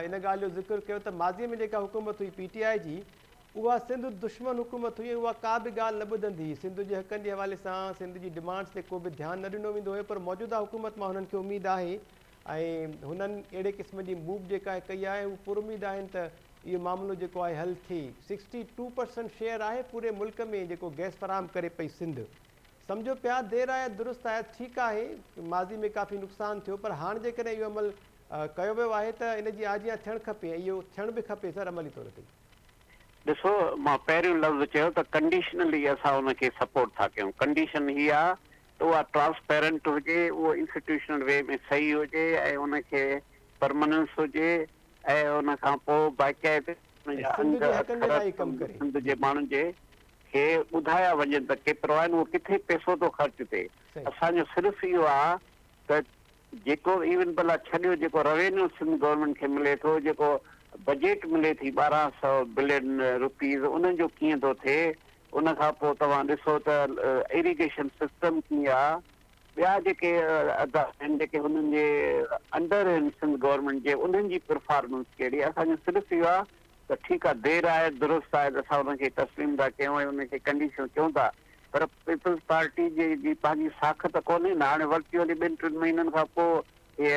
ان ڳالهه جو ذڪر ڪيو ته ماضي ۾ جيڪا حڪومت هئي پي ٽي آء جي اها سنڌ دشمن حڪومت هئي ۽ اها ڪا به ڳالهه نه ٻڌندي هئي. سنڌ جي حقن جي حوالي سان سنڌ جي ڊمانڊز تي ڪو به ڌيان نه ڏنو ويندو هيو پر موجوده حڪومت مان هنن کي اميد آهي ۽ هنن اهڙي قسم جي موو جيڪا ڪئي آهي هو پر اميد آهن ته اهو معاملو جيڪو آهي حل ٿئي. سڪسٽي ٽو پرسنٽ شيئر آهي پوري ملڪ ۾ جيڪو گئس فراهم ڪري پئي سنڌ. سمجهو پيا دير آيت درست آيت ٺيڪ آهي ماضي ۾ ڪافي نقصان ٿيو پر هاڻ جيڪڏهن اهو عمل ڪيو ويو آهي ته ان جي آجيان ٿيڻ کپي ۽ اهو ٿيڻ به کپي سر عملي طور تي. ڏسو مان پهريون لفظ چيو ته ڪنڊيشنلي اسان ان کي سپورٽ ٿا ڪيون، ڪنڊيشن هي آ ته اها ٽرانسپيرنٽ هجي، اهو انسٽيٽيوشنل وي ۾ صحيح هجي ۽ ان کي پرماننس هجي ۽ ان کان پوء باقاعدي ان جا انگ اکر سنڌ جي ماڻهن جي کي ٻڌايا وڃن ته ڪيترو آهن، اهو ڪٿي پئسو ٿو خرچ ٿئي، اسان جو صرف اهو آ ته جيڪو ايون بلا ڇڏيو جيڪو روينيو سنڌ گورنمينٽ کي ملي ٿو جيڪو بجيٽ ملي ٿي ٻارهن سئو بلين روپيز انهن جو ڪيئن ٿو ٿئي ان کان پوء توهان ڏسو ته ايريگيشن سسٽم ڪي آ ٻيا جيڪي ادا آهن جيڪي هنن جي انڊر آهن سنڌ گورنمينٽ جي انهن جي پرفارمنس ڪهڙي آ اسان جو صرف اهو آ ته ٺيڪ آهي دير آيت درست آيت اسان انهن کي تسليم ٿا ڪيون ۽ انهن کي ڪنڊيشنون ڪيون ٿا پر پيپلز پارٽي جي جي پنهنجي ساک ته ڪونهي نه هاڻي ورتي وري ٻن ٽن مهينن کان پوء هي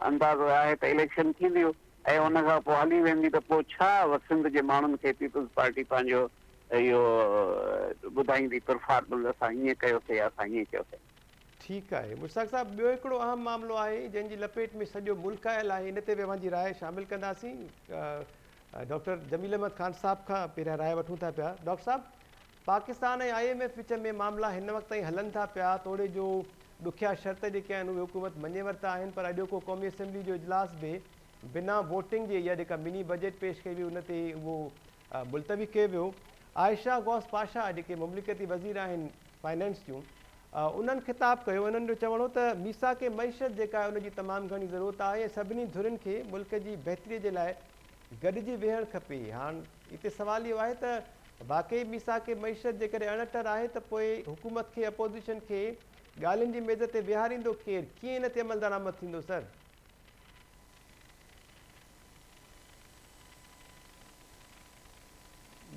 اندازو آهي ته اليڪشن ٿينديو ۽ ان کان پوء هلي ويندي ته پوء ڇا سنڌ جي ماڻهن کي پيپلز پارٽي پنهنجو اهو ٻڌائيندي پرفارمنس اسان هيئن ڪيوسي يا اسان هيئن ڪيوسي ٺيڪ آهي مشتاق صاحب ٻيو هڪڙو اهم معاملو آهي جنهن جي لپيٽ ۾ سڄو ملڪ آيل آهي ان تي به اوهان جي راء شامل ڪنداسين ڊاڪٽر جميل احمد خان صاحب کان پهريان راء وٺون ٿا پيا ڊاڪٽر صاحب پاڪستان ۽ آء ايم ايف وچ ۾ معاملا هن وقت تائين هلن ٿا پيا توڙي جو ڏکيا شرط جيڪي آهن اهي حڪومت مڃي ورتا آهن پر اڄوڪو قومي اسيمبلي جو اجلاس به بنا ووٽنگ جي اها جيڪا مني بجيٽ پيش ڪئي وئي ان تي اهو ملتوي ڪيو ويو عائشه غوث پاشا جيڪي مملڪتي وزير آهن فنانس جون انهن خطاب ڪيو انهن جو چوڻ هو ته ميثاق معيشت جيڪا ان جي تمام گهڻي ضرورت آهي ۽ سڀني ڌرين کي ملڪ جي بهتري جي لاء گڏجي ويهڻ کپي هاڻ اتي سوال اهو آهي ته واقعي ميثاق معيشت جيڪڏهن اڻٽر آهي ته پوء حڪومت کي اپوزيشن کي ڳالهين جي ميز تي ويهاريندو ڪير ڪيئن ان تي عملدرآمد ٿيندو سر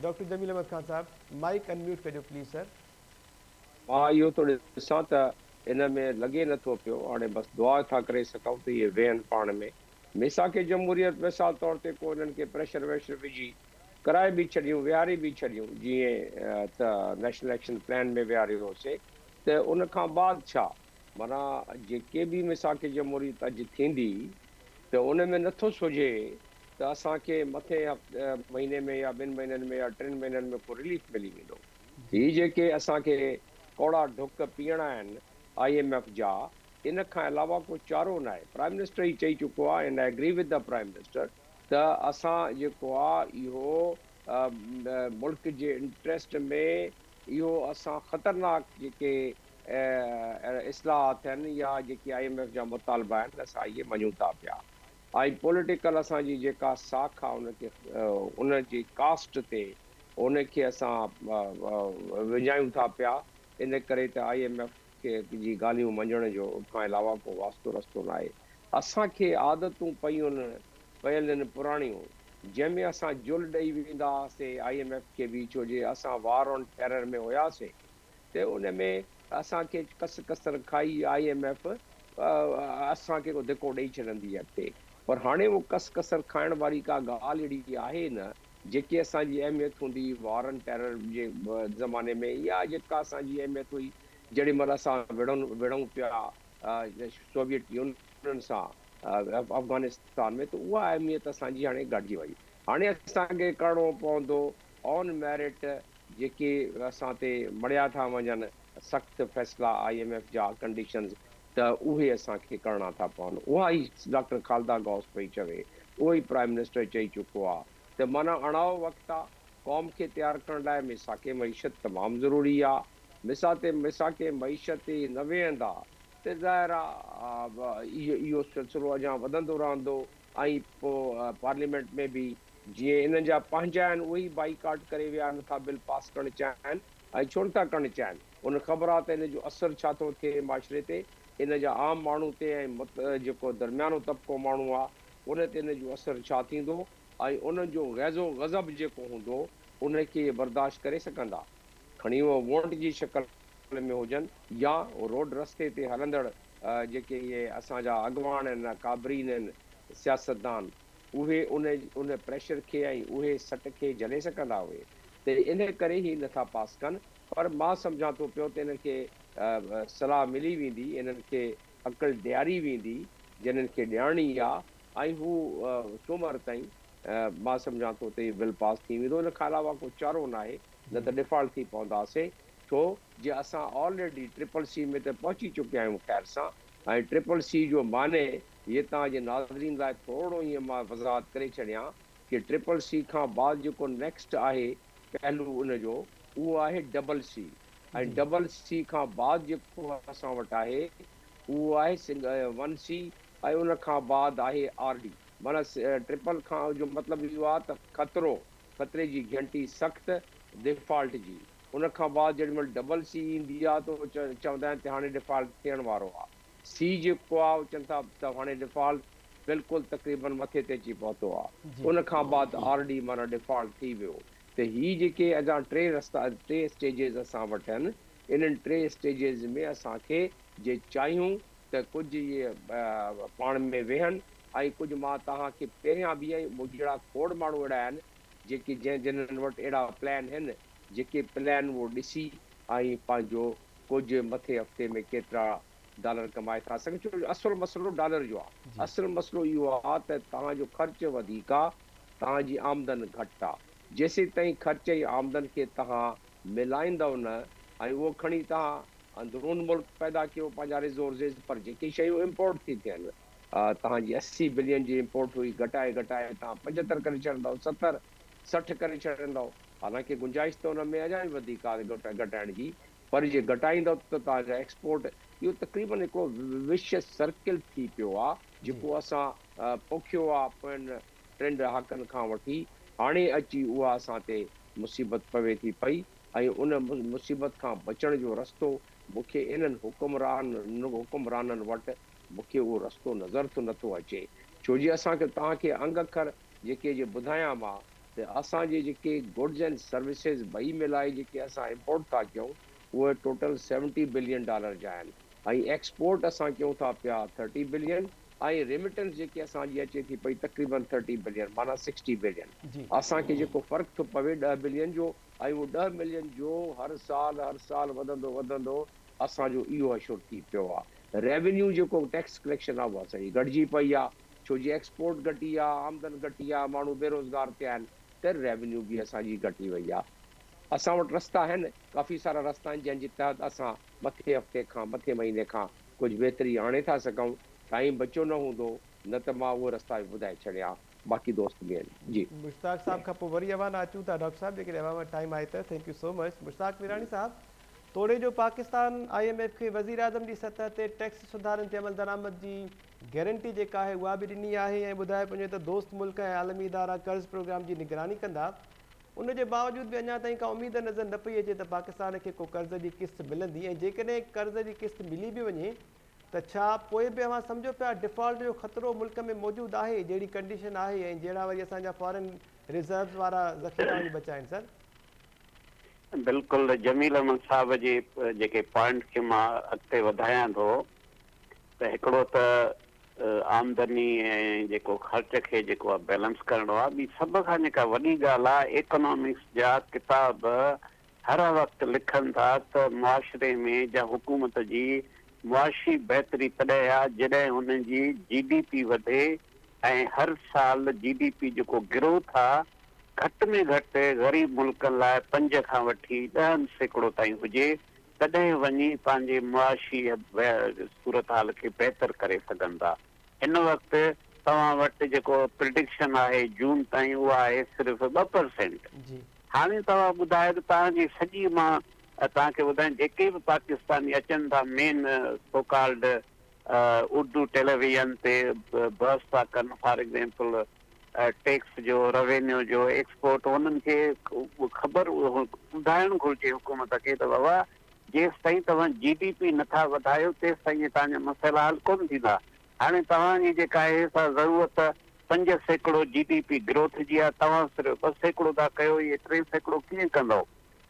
ڊاڪٽر جميل احمد خان صاحب مائيڪ ان ميوٽ ڪجو پليز سر. مان اهو ٿو ڏسان ته ان ۾ لڳي نه ٿو پيو هاڻي بس دعا ٿا ڪري سگهون ته اهي ويهن پاڻ ۾ ميثاق جمهوريت مثال طور تي ڪو انهن کي پريشر ويشر وجهي ڪرائي به ڇڏيون ويهاري به ڇڏيون جيئن ته نيشنل ايڪشن پلان ۾ ويهاريو هوسي ته ان کان بعد ڇا معنيٰ جيڪي به ميثاق جمهوريت اڄ ٿيندي ته ان ۾ نٿو سوجهي ته اسان کي مٿين مهيني ۾ يا ٻن مهينن ۾ يا ٽن مهينن ۾ ڪو رليف ملي ويندو. هي جيڪي اسان کي ڪوڙا ڍڪ پيئڻا آهن آء ايم ايف جا ان کان علاوه ڪو چارو ناهي. پرائم منسٽر ئي چئي چڪو آهي and I agree with the prime minister ته اسان جيڪو آ اهو ملڪ جي انٽريسٽ ۾ اهو اسان خطرناڪ جيڪي اهڙا اصلاحات ٿين يا جيڪي آء ايم ايف جا مطالبا آهن اسان اهي مڃون ٿا پيا ۽ پوليٽيڪل اسان جي جيڪا ساک آهي ان کي ان جي ڪاسٽ تي ان کي اسان وڃايون ٿا پيا ان ڪري ته آء ايم ايف کي جي ڳالهيون مڃڻ جو ان کان علاوه ڪو واسطو رستو ناهي اسان کي عادتون پيون پيل آهن پراڻيون جنهن ۾ اسان جل ڏئي ويندا هئاسين آء ايم ايف کي به ڇو جي اسان وار آن ٽيرر ۾ هياسين ته ان ۾ اسان کي ڪس ڪسر کائي آء ايم ايف اسان کي ڪو ڌڪو ڏئي ڇڏندي اڳتي پر هاڻي اهو ڪس ڪسر کائڻ واري ڪا ڳالهه اهڙي آهي نه جيڪي اسان جي اهميت هوندي وار اينڊ ٽيرر جي زماني ۾ يا جيڪا اسان جي اهميت هئي جهڙي مهل اسان وڙهن وڙهون پيا سوويت يونين سان افغانستان ۾ ته اها اهميت اسان جي هاڻي گهٽجي وئي هاڻي اسان کي ڪرڻو پوندو آن ميرٽ جيڪي اسان تي مڙهيا ٿا وڃن، سخت فيصلا آء ايم ايف جا، ڪنڊيشنز، ته اهي اسان کي ڪرڻا ٿا پون. اها ئي ڊاڪٽر خالده غوث پئي چوي، اهو ئي پرائم منسٽر چئي چڪو آ ته معنيٰ اڻائو وقت آ، قوم کي تيار ڪرڻ لاء ميثاق معيشت تمام ضروري آ. ميثاق معيشت تي نه ويهندا ته ظاهر آ اهو سلسلو اڃان وڌندو رهندو. ۽ پوء پارليامينٽ ۾ به جيئن انهن جا پنهنجا آهن اهي ئي بائيڪاٽ ڪري ويا آهن نٿا بل پاس ڪرڻ چاهن ۽ ڇو نٿا ڪرڻ چاهن انهن خبر آهي ته ان جو اثر ڇا ٿو ٿئي معاشري تي ان جا عام ماڻهو تي ۽ مت جيڪو درميانو طبقو ماڻهو آهي ان تي ان جو اثر ڇا ٿيندو ۽ انهن جو غيظ و غضب جيڪو هوندو ان کي اهي برداشت ڪري سگهندا کڻي اهي وونٽ جي شڪل ۾ هجن يا روڊ رستي تي هلندڙ جيڪي اهي اسان جا اڳواڻ آهن ۽ ڪابرين آهن، سياستدان، اهي ان ان پريشر کي ۽ اهي سٽ کي جهلي سگهندا اهي ته ان ڪري هي نه ٿا پاس ڪن پر مان سمجهان ٿو پيو ته انهن کي صلاح ملي ويندي، انهن کي عقل ڏياري ويندي جي انهن کي ڏيارڻي آ ۽ هو سومر تائين مان سمجهان ٿو ته هي بل پاس ٿي ويندو ان کان علاوه ڪو چارو ناهي نه ته ڊفالٽ ٿي پونداسين ڇو جي اسان آلريڊي ٽرپل سي ۾ ته پهچي چڪي آهيون خير سان ۽ ٽرپل سي جو معني هي توهان جي ناظرين لاء ٿورڙو ائين مان وضاحت ڪري ڇڏيان ڪي ٽرپل سي کان بعد جيڪو نيڪسٽ آهي پهلو ان جو اهو آهي ڊبل سي ۽ ڊبل سي کان بعد جيڪو اسان وٽ آهي اهو آهي سنگ ون سي ۽ ان کان بعد آهي آر ڊي معني ٽرپل کان جو مطلب اهو آهي ته خطرو خطري جي گهنٽي سخت ديفالٽ جي ان کان بعد جيڏي مھل ڊبل سي ايندي آ تون چوندا آھن تھ ھاڻي ڊفالٽ ٿيڻ وارو آ. سي جيڪو آ اھو چون ٿا تھ ھاڻي ڊفالٽ بلڪل تقريبن مٿي تي اچي پهتو آ. ان کان بعد آر ڊي معنيٰ ڊفالٽ ٿي ويو تھ ھي جيڪي ادا ٽي رستا ٽي اسٽيجز اسان وٽ آھن انھن ٽي اسٽيجز ۾ اسان کي جي چاھيون تھ ڪجھ اھي پاڻ ۾ ويھن ۽ ڪجھ مان توھان کي پهريان بھ ۽ مون جھڙا کوڙ ماڻھو اھڙا آھن جيڪي جنھن جنھن وٽ اھڙا پلان ھن جيڪي پلان اهو ڏسي آئين پنهنجو ڪجهه مٿين هفتي ۾ ڪيترا ڊالر ڪمائي ٿا سگهن ڇو جو اصل مسئلو ڊالر جو آ اصل مسئلو اهو آ ته توهان جو خرچ وڌيڪ آ توهان جي آمدن گهٽ آ جيسيتائين خرچ ۽ آمدن کي توهان ملائيندؤ نه ۽ اهو کڻي توهان اندرون ملڪ پيدا ڪيو پنهنجا ريزورسز پر جيڪي شيون امپورٽ ٿي ٿين توهان جي اسي بلين جي امپورٽ هئي گهٽائي گهٽائي توهان پنجهتر ڪري ڇڏندؤ ستر سٺ ڪري ڇڏيندؤ، حالانڪ گنجائش ته ان ۾ اڃا به وڌيڪ آهي گهٽائڻ جي، پر جي گهٽائيندؤ ته توهان جا ايڪسپورٽ، اهو تقريبن هڪ وشيس سرڪل ٿي پيو آهي، جيڪو اسان پوکيو آهي پوين ٽن ڏهاڪن کان وٺي، هاڻي اچي اها اسان تي مصيبت پوي ٿي پئي ۽ ان مصيبت کان بچڻ جو رستو مون کي انهن حڪمرانن وٽ مون کي اهو رستو نظر ٿو نٿو اچي، ڇو جي اسان کي توهان کي انگ اکر جيڪي جي ٻڌايان مان ته اسان جي جيڪي گڊز اينڊ سروسز ٻئي ملائي جيڪي اسان امپورٽ ٿا ڪيون اهي ٽوٽل سيونٽي بلين ڊالر جا آهن ۽ ايڪسپورٽ اسان ڪيون ٿا پيا ٿرٽي بلين ۽ ريمٽنس جيڪي اسان جي اچي ٿي پئي تقريبن ٿرٽي بلين معنيٰ سڪسٽي بلين اسان کي جيڪو فرق ٿو پوي ڏهه بلين جو ۽ اهو ڏهه ملين جو هر سال هر سال وڌندو وڌندو اسان جو اهو اشور ٿي پيو آهي ريونيو جيڪو ٽيڪس ڪليڪشن آهي اها سڄي گهٽجي پئي آهي. ڇو جي ايڪسپورٽ گهٽي آ، آمدن گهٽي آ، ماڻهو بيروزگار ٿيا آهن ته ريونيو به اسان جي گهٽي وئي آ. اسان وٽ رستا آهن، ڪافي سارا رستا آهن جنهن جي تحت اسان مٿين هفتي کان مٿين مهيني کان ڪجهه بهتري آڻي ٿا سگهون. ٽائيم بچيو نه هوندو نه ته مان اهي رستا به ٻڌائي ڇڏيا ها. باقي دوست به آهن. جي. مشتاق صاحب کان پوء وري اوهان ڏانهن اچون ٿا ڊاڪٽر صاحب جيڪڏهن اوهان وٽ ٽائيم آهي ته thank you so much Mushtaq Mirani صاحب توڙي جو پاڪستان آئي ايم ايف کي وزيراعظم جي سطح تي ٽيڪس سڌارن تي عملدرآمد جي گيرنٽي جيڪا آهي اها به ڏني آهي ۽ ٻڌايو پنهنجو ته دوست ملڪ ۽ عالمي ادارا قرض پروگرام جي نگراني ڪندا، ان جي باوجود به اڃا تائين ڪا اميد نظر نه پئي اچي ته پاڪستان کي ڪو قرض جي قسط ملندي ۽ جيڪڏهن قرض جي قسط ملي به وڃي ته ڇا پوء به اوهان سمجهو پيا ڊفالٽ جو خطرو ملڪ ۾ موجود آهي جهڙي ڪنڊيشن آهي ۽ جهڙا وري اسان جا فارين ريزروز وارا ذخيرا وڃي بچا آهن سر. بلڪل جميل احمد صاحب جي جيڪي پوائنٽ کي مان اڳتي وڌايان ٿو ته هڪڙو ته آمدني ۽ جيڪو خرچ کي جيڪو آهي بيلنس ڪرڻو آهي، ٻي سڀ کان جيڪا وڏي ڳالهه آهي ايڪنامڪس جا ڪتاب هر وقت لکن ٿا ته معاشري ۾ جا حڪومت جي معاشي بهتري تڏهن آهي جڏهن ان جي جي ڊي پي وڌي ۽ هر سال جي ڊي پي جيڪو گروٿ آهي گهٽ ۾ گهٽ غريب ملڪن لاء پنج کان وٺي ڏهن سيڪڙو تائين هجي تڏهن وڃي پنهنجي معاشي صورتحال کي بهتر ڪري سگهن ٿا. هن وقت توهان وٽ جيڪو پرڊڪشن آهي جون تائين اها آهي صرف ٻه پرسينٽ. هاڻي توهان ٻڌايو ته توهان جي سڄي مان توهان کي ٻڌايان جيڪي به پاڪستاني اچن ٿا main so called Urdu television تي بحث ٿا ڪن فار ايگزيمپل ٽيڪس جو، روينيو جو، ايڪسپورٽ انهن کي خبر ٻڌائڻ گهرجي حڪومت کي ته بابا جيستائين توهان جي ڊي پي نٿا وڌايو تيستائين توهان جا مسئلا حل ڪونه ٿيندا. هاڻي توهان جي جيڪا آهي سا ضرورت پنج سيڪڙو جي ڊي پي گروٿ جي آهي توهان صرف ٻه سيڪڙو ٿا ڪيو اهي ٽي سيڪڙو ڪيئن ڪندؤ؟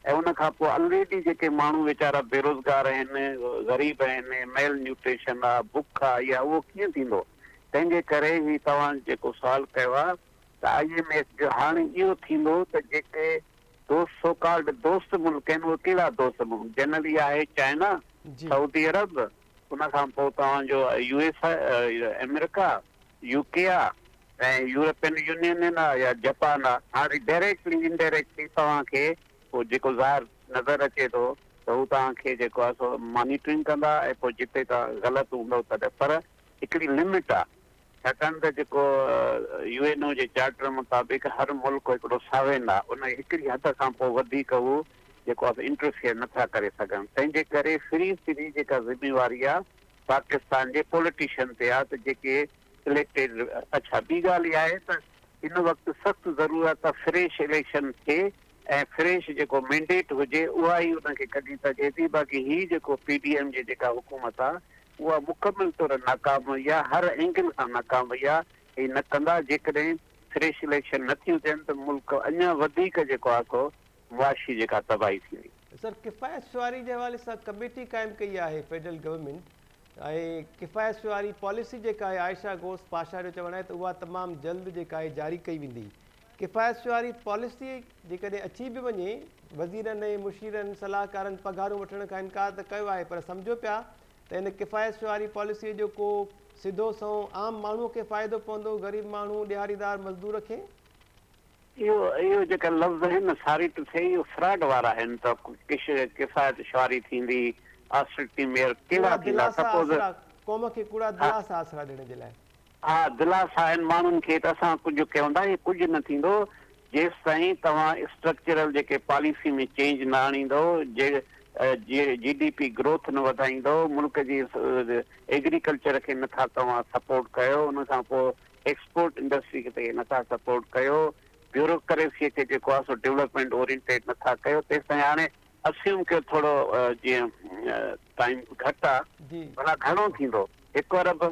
۽ ان کان پوء الريڊي جيڪي ماڻهو ويچارا بيروزگار آهن، غريب آهن، ميل نيوٽريشن آهي، بک آهي اها اهو ڪيئن ٿيندو؟ تنهن جي ڪري هي توهان جيڪو سوال ڪيو آهي ته آء ايم ايف جو هاڻي اهو ٿيندو ته جيڪي دوست سو ڪالڊ دوست ملڪ آهن اهي ڪهڙا دوست ملڪ جنرل اهي آهي چائنا سعودي عرب ان کان پوء توهان جو U S America U K آ ۽ يورپين يونين آ يا جپان آ هاڻي ڊائريڪٽلي انڊائريڪٽلي توهان کي پوء جيڪو ظاهر نظر اچي ٿو ته هو توهان کي جيڪو آهي سو مانيٽرنگ ڪندا ۽ پوء جتي توهان غلط هوندو تڏهن پر هڪڙي لمٽ آ ڇاڪاڻ ته جيڪو يو اين او جي چارٽر مطابق هر ملڪ هڪڙو ساوين آ ان هڪڙي حد کان پوء وڌيڪ هو جيڪو آ سو انٽرفيئر نٿا ڪري سگهن تنهنجي ڪري فري سري جيڪا ذميواري آ پاڪستان جي پولٽيشن تي آ ته جيڪي اليڪٽيڊ اڇا ٻي ڳالهه اها آهي ته هن وقت سخت ضرورت آ فريش اليڪشن ٿئي ۽ فريش جيڪو مينڊيٽ هجي اها ئي ان کي ڪڍي سگهي ٿي باقي هي جيڪو پي ڊي ايم جي جيڪا حڪومت آ اها مڪمل طور ناڪام وئي آهي، هر اينگل کان ناڪام وئي آهي ۽ نه ڪندا، جيڪڏهن فريش اليڪشن نه ٿيون ٿين ته ملڪ اڃا وڌيڪ جيڪو آهي سو معاشي جيڪا تباهي ٿيندي. سر ڪفايت شعاري جي حوالي سان ڪميٽي قائم ڪئي آهي فيڊرل گورنمينٽ ۽ ڪفايت شعاري پاليسي جيڪا آهي عائشه غوث پاشا جو چوڻ آهي ته اها تمام جلد جيڪا آهي جاري ڪئي ويندي ڪفايت شعاري پاليسي جيڪڏهن اچي به وڃي، وزيرن ۽ مشيرن صلاحڪارن پگهارون وٺڻ کان انڪار ته ڪيو آهي پر سمجهو پيا ته ان ڪفايت شعاري پاليسي جو ڪو سڌو سنئون عام ماڻهو کي فائدو پوندو غريب ماڻهو ڏهاڙيدار مزدور کي اهو اهو جيڪا لفظ آهن نه ساري ٽه ٿئي اهو فراڊ وارا آهن ته ڪش ڪفايت شعاري ٿيندي آسريتي ميئر ڪهڙا ٿيندا سپوز ها ڪوڙا دلاسا آسرا ڏيڻ جي لاء اھا دلاسا ھن ماڻھن کي ته اسان ڪجھ ڪيون ٿا ھي ڪجھ نه ٿيندو جيستائين توھان اسٽرڪچرل جيڪي پاليسي ۾ چينج نه آڻيندو جي جي ڊي پي گروٿ نه وڌائيندو ملڪ جي ايگريڪلچر کي نه ٿا توھان سپورٽ ڪيو ان کان پوء ايڪسپورٽ انڊسٽري کي نه ٿا سپورٽ ڪيو بيوروڪريسي کي جيڪو آھي سو ڊولپمينٽ اورينٽيڊ نه ٿا ڪيو تيستائين ھاڻي اسيوم ڪيو ٿورو جيئن ٽائيم گھٽ آ ڀلا گھڻو ٿيندو ھڪ ارب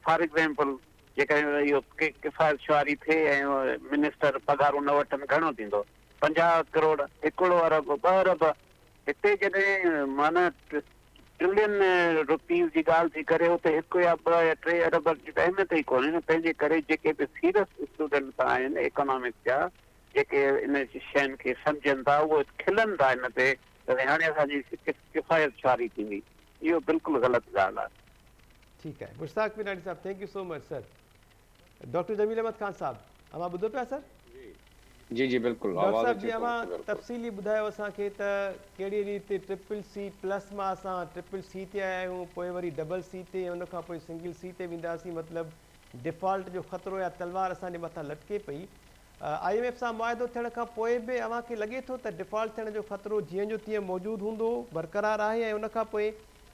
فار ايگزيمپل جيڪڏهن اهو ڪفايت شعاري ٿئي ۽ منسٽر پگهارون نه وٺن گهڻو ٿيندو پنجاهه ڪروڙ هڪڙو ارب ٻه ارب هتي جڏهن معنيٰ ٽرلين روپيز جي ڳالهه ٿي ڪري اتي هڪ يا ٻه يا ٽي ارب جي ته اهميت ئي ڪونهي نه تنهنجي ڪري جيڪي به سيرس اسٽوڊنٽ ته آهن ايڪانامڪس جا جيڪي ان شين کي سمجهن ٿا اهي کلن ٿا ان تي ته هاڻي اسان جي ڪفايت شعاري ٿيندي. اهو بلڪل غلط ڳالهه آهي. ٺيڪ آهي مشتاق پناڻي صاحب thank you so much sir doctor جميل احمد خان صاحب اوهان ٻڌو پيا سر. جي جي بلڪل ڊاڪٽر آواز صاحب اچي جي ٿو اوهان بلڪل. تفصيلي ٻڌايو اسان کي ته ڪهڙي ريت ٽرپل سي پلس مان اسان ٽرپل سي تي آيا آهيون پوء وري ڊبل سي تي ۽ ان کان پوء سنگل سي تي وينداسين مطلب ڊفالٽ جو خطرو يا تلوار اسان جي مٿان لٽڪي پئي آء ايم ايف سان معاهدو ٿيڻ کان پوء به اوهان کي لڳي ٿو ته ڊفالٽ ٿيڻ جو خطرو جيئن جو تيئن موجود هوندو، برقرار آهي ۽ ان کان پوء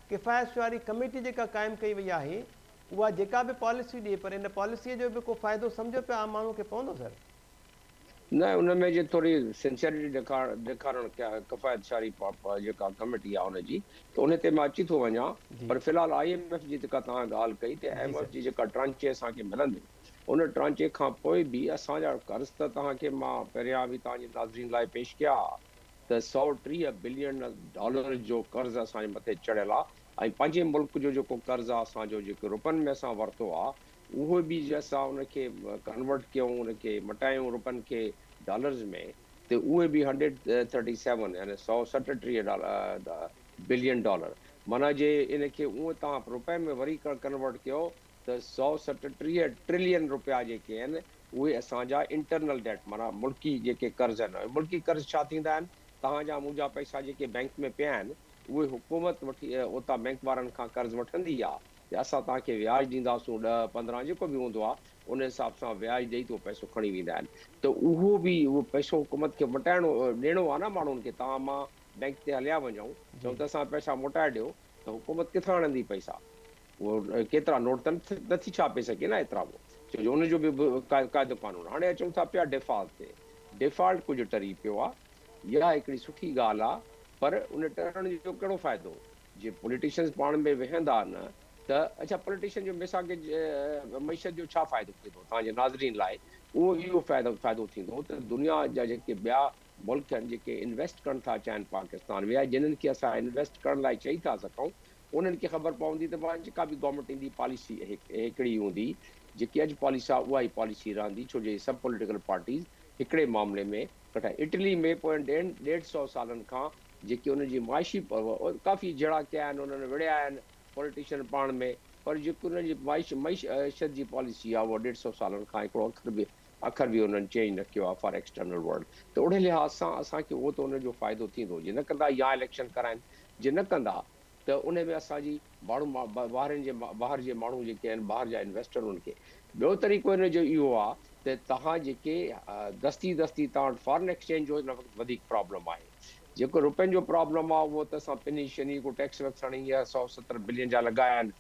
ڪفايت شعاري ڪميٽي جيڪا قائم ڪئي وئي آهي اها جيڪا به پاليسي ڏئي پر ان پاليسيء جو به ڪو فائدو سمجهو پيا عام ماڻهوء کي پوندو سر؟ نه ان ۾ جي ٿوري سنسيئرٽي ڏيکارڻ ڪفايت شعاري جيڪا ڪميٽي آهي ان جي ته ان تي مان اچي ٿو وڃان پر في الحال آء ايم ايف جي جيڪا توهان ڳالهه ڪئي ته ايم ايف جي جيڪا ٽرانچي اسان کي ملنديون ان ٽانچي کان پوء به اسان جا قرض ته توهان کي مان پهريان به توهان جي ناظرين لاء پيش ڪيا ها ته سؤ ٽيهه بلين ڊالر جو قرض اسان جي مٿي چڙهيل آهي ۽ پنهنجي ملڪ جو جيڪو قرض آهي اسان جو جيڪو روپين ۾ اسان ورتو آهي اهو به جي اسان ان کي ڪنورٽ ڪيون ان کي مٽايون روپين کي ڊالرز ۾ ته اهي به هنڊريڊ ٿرٽي سيون يعني سؤ سٽ ٽيهه بلين ڊالر معنيٰ جي ان کي اونء توهان روپين ۾ وري ڪنورٽ ڪيو ته سؤ ستٽيهه ٽرلين رپيا جيڪي آهن اهي اسان جا انٽرنل ڊيٽ معنيٰ ملڪي جيڪي قرض آهن اهي ملڪي قرض ڇا ٿيندا آهن توهان جا مون جا پئسا جيڪي بئنڪ ۾ پيا آهن اهي حڪومت وٺي اوتان بئنڪ وارن کان قرض وٺندي آهي ته اسان توهان کي وياج ڏينداسون ڏهه پندرهن جيڪو به هوندو آهي ان حساب سان وياج ڏئي ته اهو پئسو کڻي ويندا آهن ته اهو به اهو پئسو حڪومت کي مٽائڻو ڏيڻو آهي نه ماڻهن کي توهان مان بئنڪ تي هليا وڃون چئون ته اسان پئسا موٽائي ڏيو ته حڪومت ڪٿان آڻندي پئسا. اهو ڪيترا نوٽ ته نه ٿي ڇاپي سگهي نه ايترا به ڇو جو ان جو به قاعدو قانون هاڻي اچون ٿا پيا ڊيفالٽ تي ڊيفالٽ ڪجهه ٽري پيو آ يا هڪڙي سٺي ڳالهه آ پر ان ٽرڻ جو ڪهڙو فائدو جي پوليٽيشنز پاڻ ۾ وهندا نه ته اڇا پوليٽيشن جو ميساڪ معيشت جو ڇا فائدو ٿيندو توهان جي ناظرين لاء اهو اهو فائدو فائدو ٿيندو ته دنيا جا جيڪي ٻيا ملڪ آهن جيڪي انويسٽ ڪرڻ ٿا چاهن پاڪستان ۾ جنن کي اسان انويسٽ ڪرڻ لاء چئي ٿا سگهون انهن کي خبر پوندي ته پاڻ جيڪا به گورنمينٽ ايندي پاليسي هڪڙي ئي هوندي، جيڪي اڄ پاليسي آهي اها ئي پاليسي رهندي ڇو جو هي سڀ پوليٽيڪل پارٽيز هڪڙي معاملي ۾ ڪٺا آهن. اٽلي ۾ پوين ڏهن ڏيڍ سئو سالن کان جيڪي انهن جي معاشي ڪافي جهيڙا ڪيا آهن انهن وڙهيا آهن پوليٽيشن پاڻ ۾ پر جيڪي انهن جي معيشت جي پاليسي آهي اها ڏيڍ سئو سالن کان هڪڙو اکر به اکر به انهن چينج نه ڪيو آهي فار ايڪسٽرنل ورلڊ ته اهڙي لحاظ سان اسان کي اهو ته ان جو فائدو ٿيندو جي نه ڪندا يا اليڪشن ڪرائين جي نه ڪندا ته انهي ۾ اسان جي باڙو ٻاهرين جي ٻاهر جي ماڻهو جيڪي آهن ٻاهر جا انويسٽر انهن کي ٻيو طريقو ان جو اهو آهي ته توهان جيڪي دستي دستي توهان وٽ فارن ايڪسچينج جو هن وقت وڌيڪ پرابلم آهي جيڪو روپين جو پرابلم آهي اهو ته اسان پني شني ڪو ٽيڪس ويڪس هڻي اهي سؤ ستر بلين جا لڳايا آهن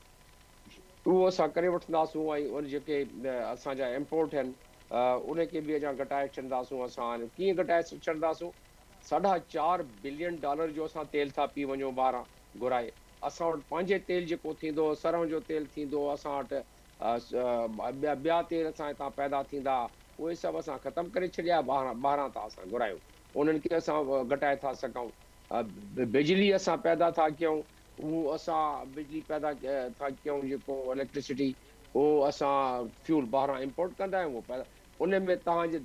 اهو اسان ڪري وٺنداسون ۽ ان جيڪي اسان جا امپورٽ آهن انهي کي به اڃا گهٽائي ڇڏنداسون اسان ڪيئن گهٽائي ڇڏنداسون ساڍا چار بلين ڊالر جو اسان تيل ٿا پي وڃون ٻاهران گهرائي اسان وٽ پنهنجي تيل جيڪو ٿيندو سرهون جو تيل ٿيندو اسان وٽ ٻيا ٻيا تيل اسان هتان پيدا ٿيندا اهي سڀ اسان ختم ڪري ڇڏيا ٻاهران ٻاهران ٿا اسان گهرايون انهن کي اسان گهٽائي ٿا سگهون بجلي اسان پيدا ٿا ڪيون اهو اسان بجلي پيدا ٿا ڪيون جيڪو اليڪٽرسٽي اهو اسان فيول ٻاهران امپورٽ ڪندا آهيون اهو پيدا ان ۾ تهان جي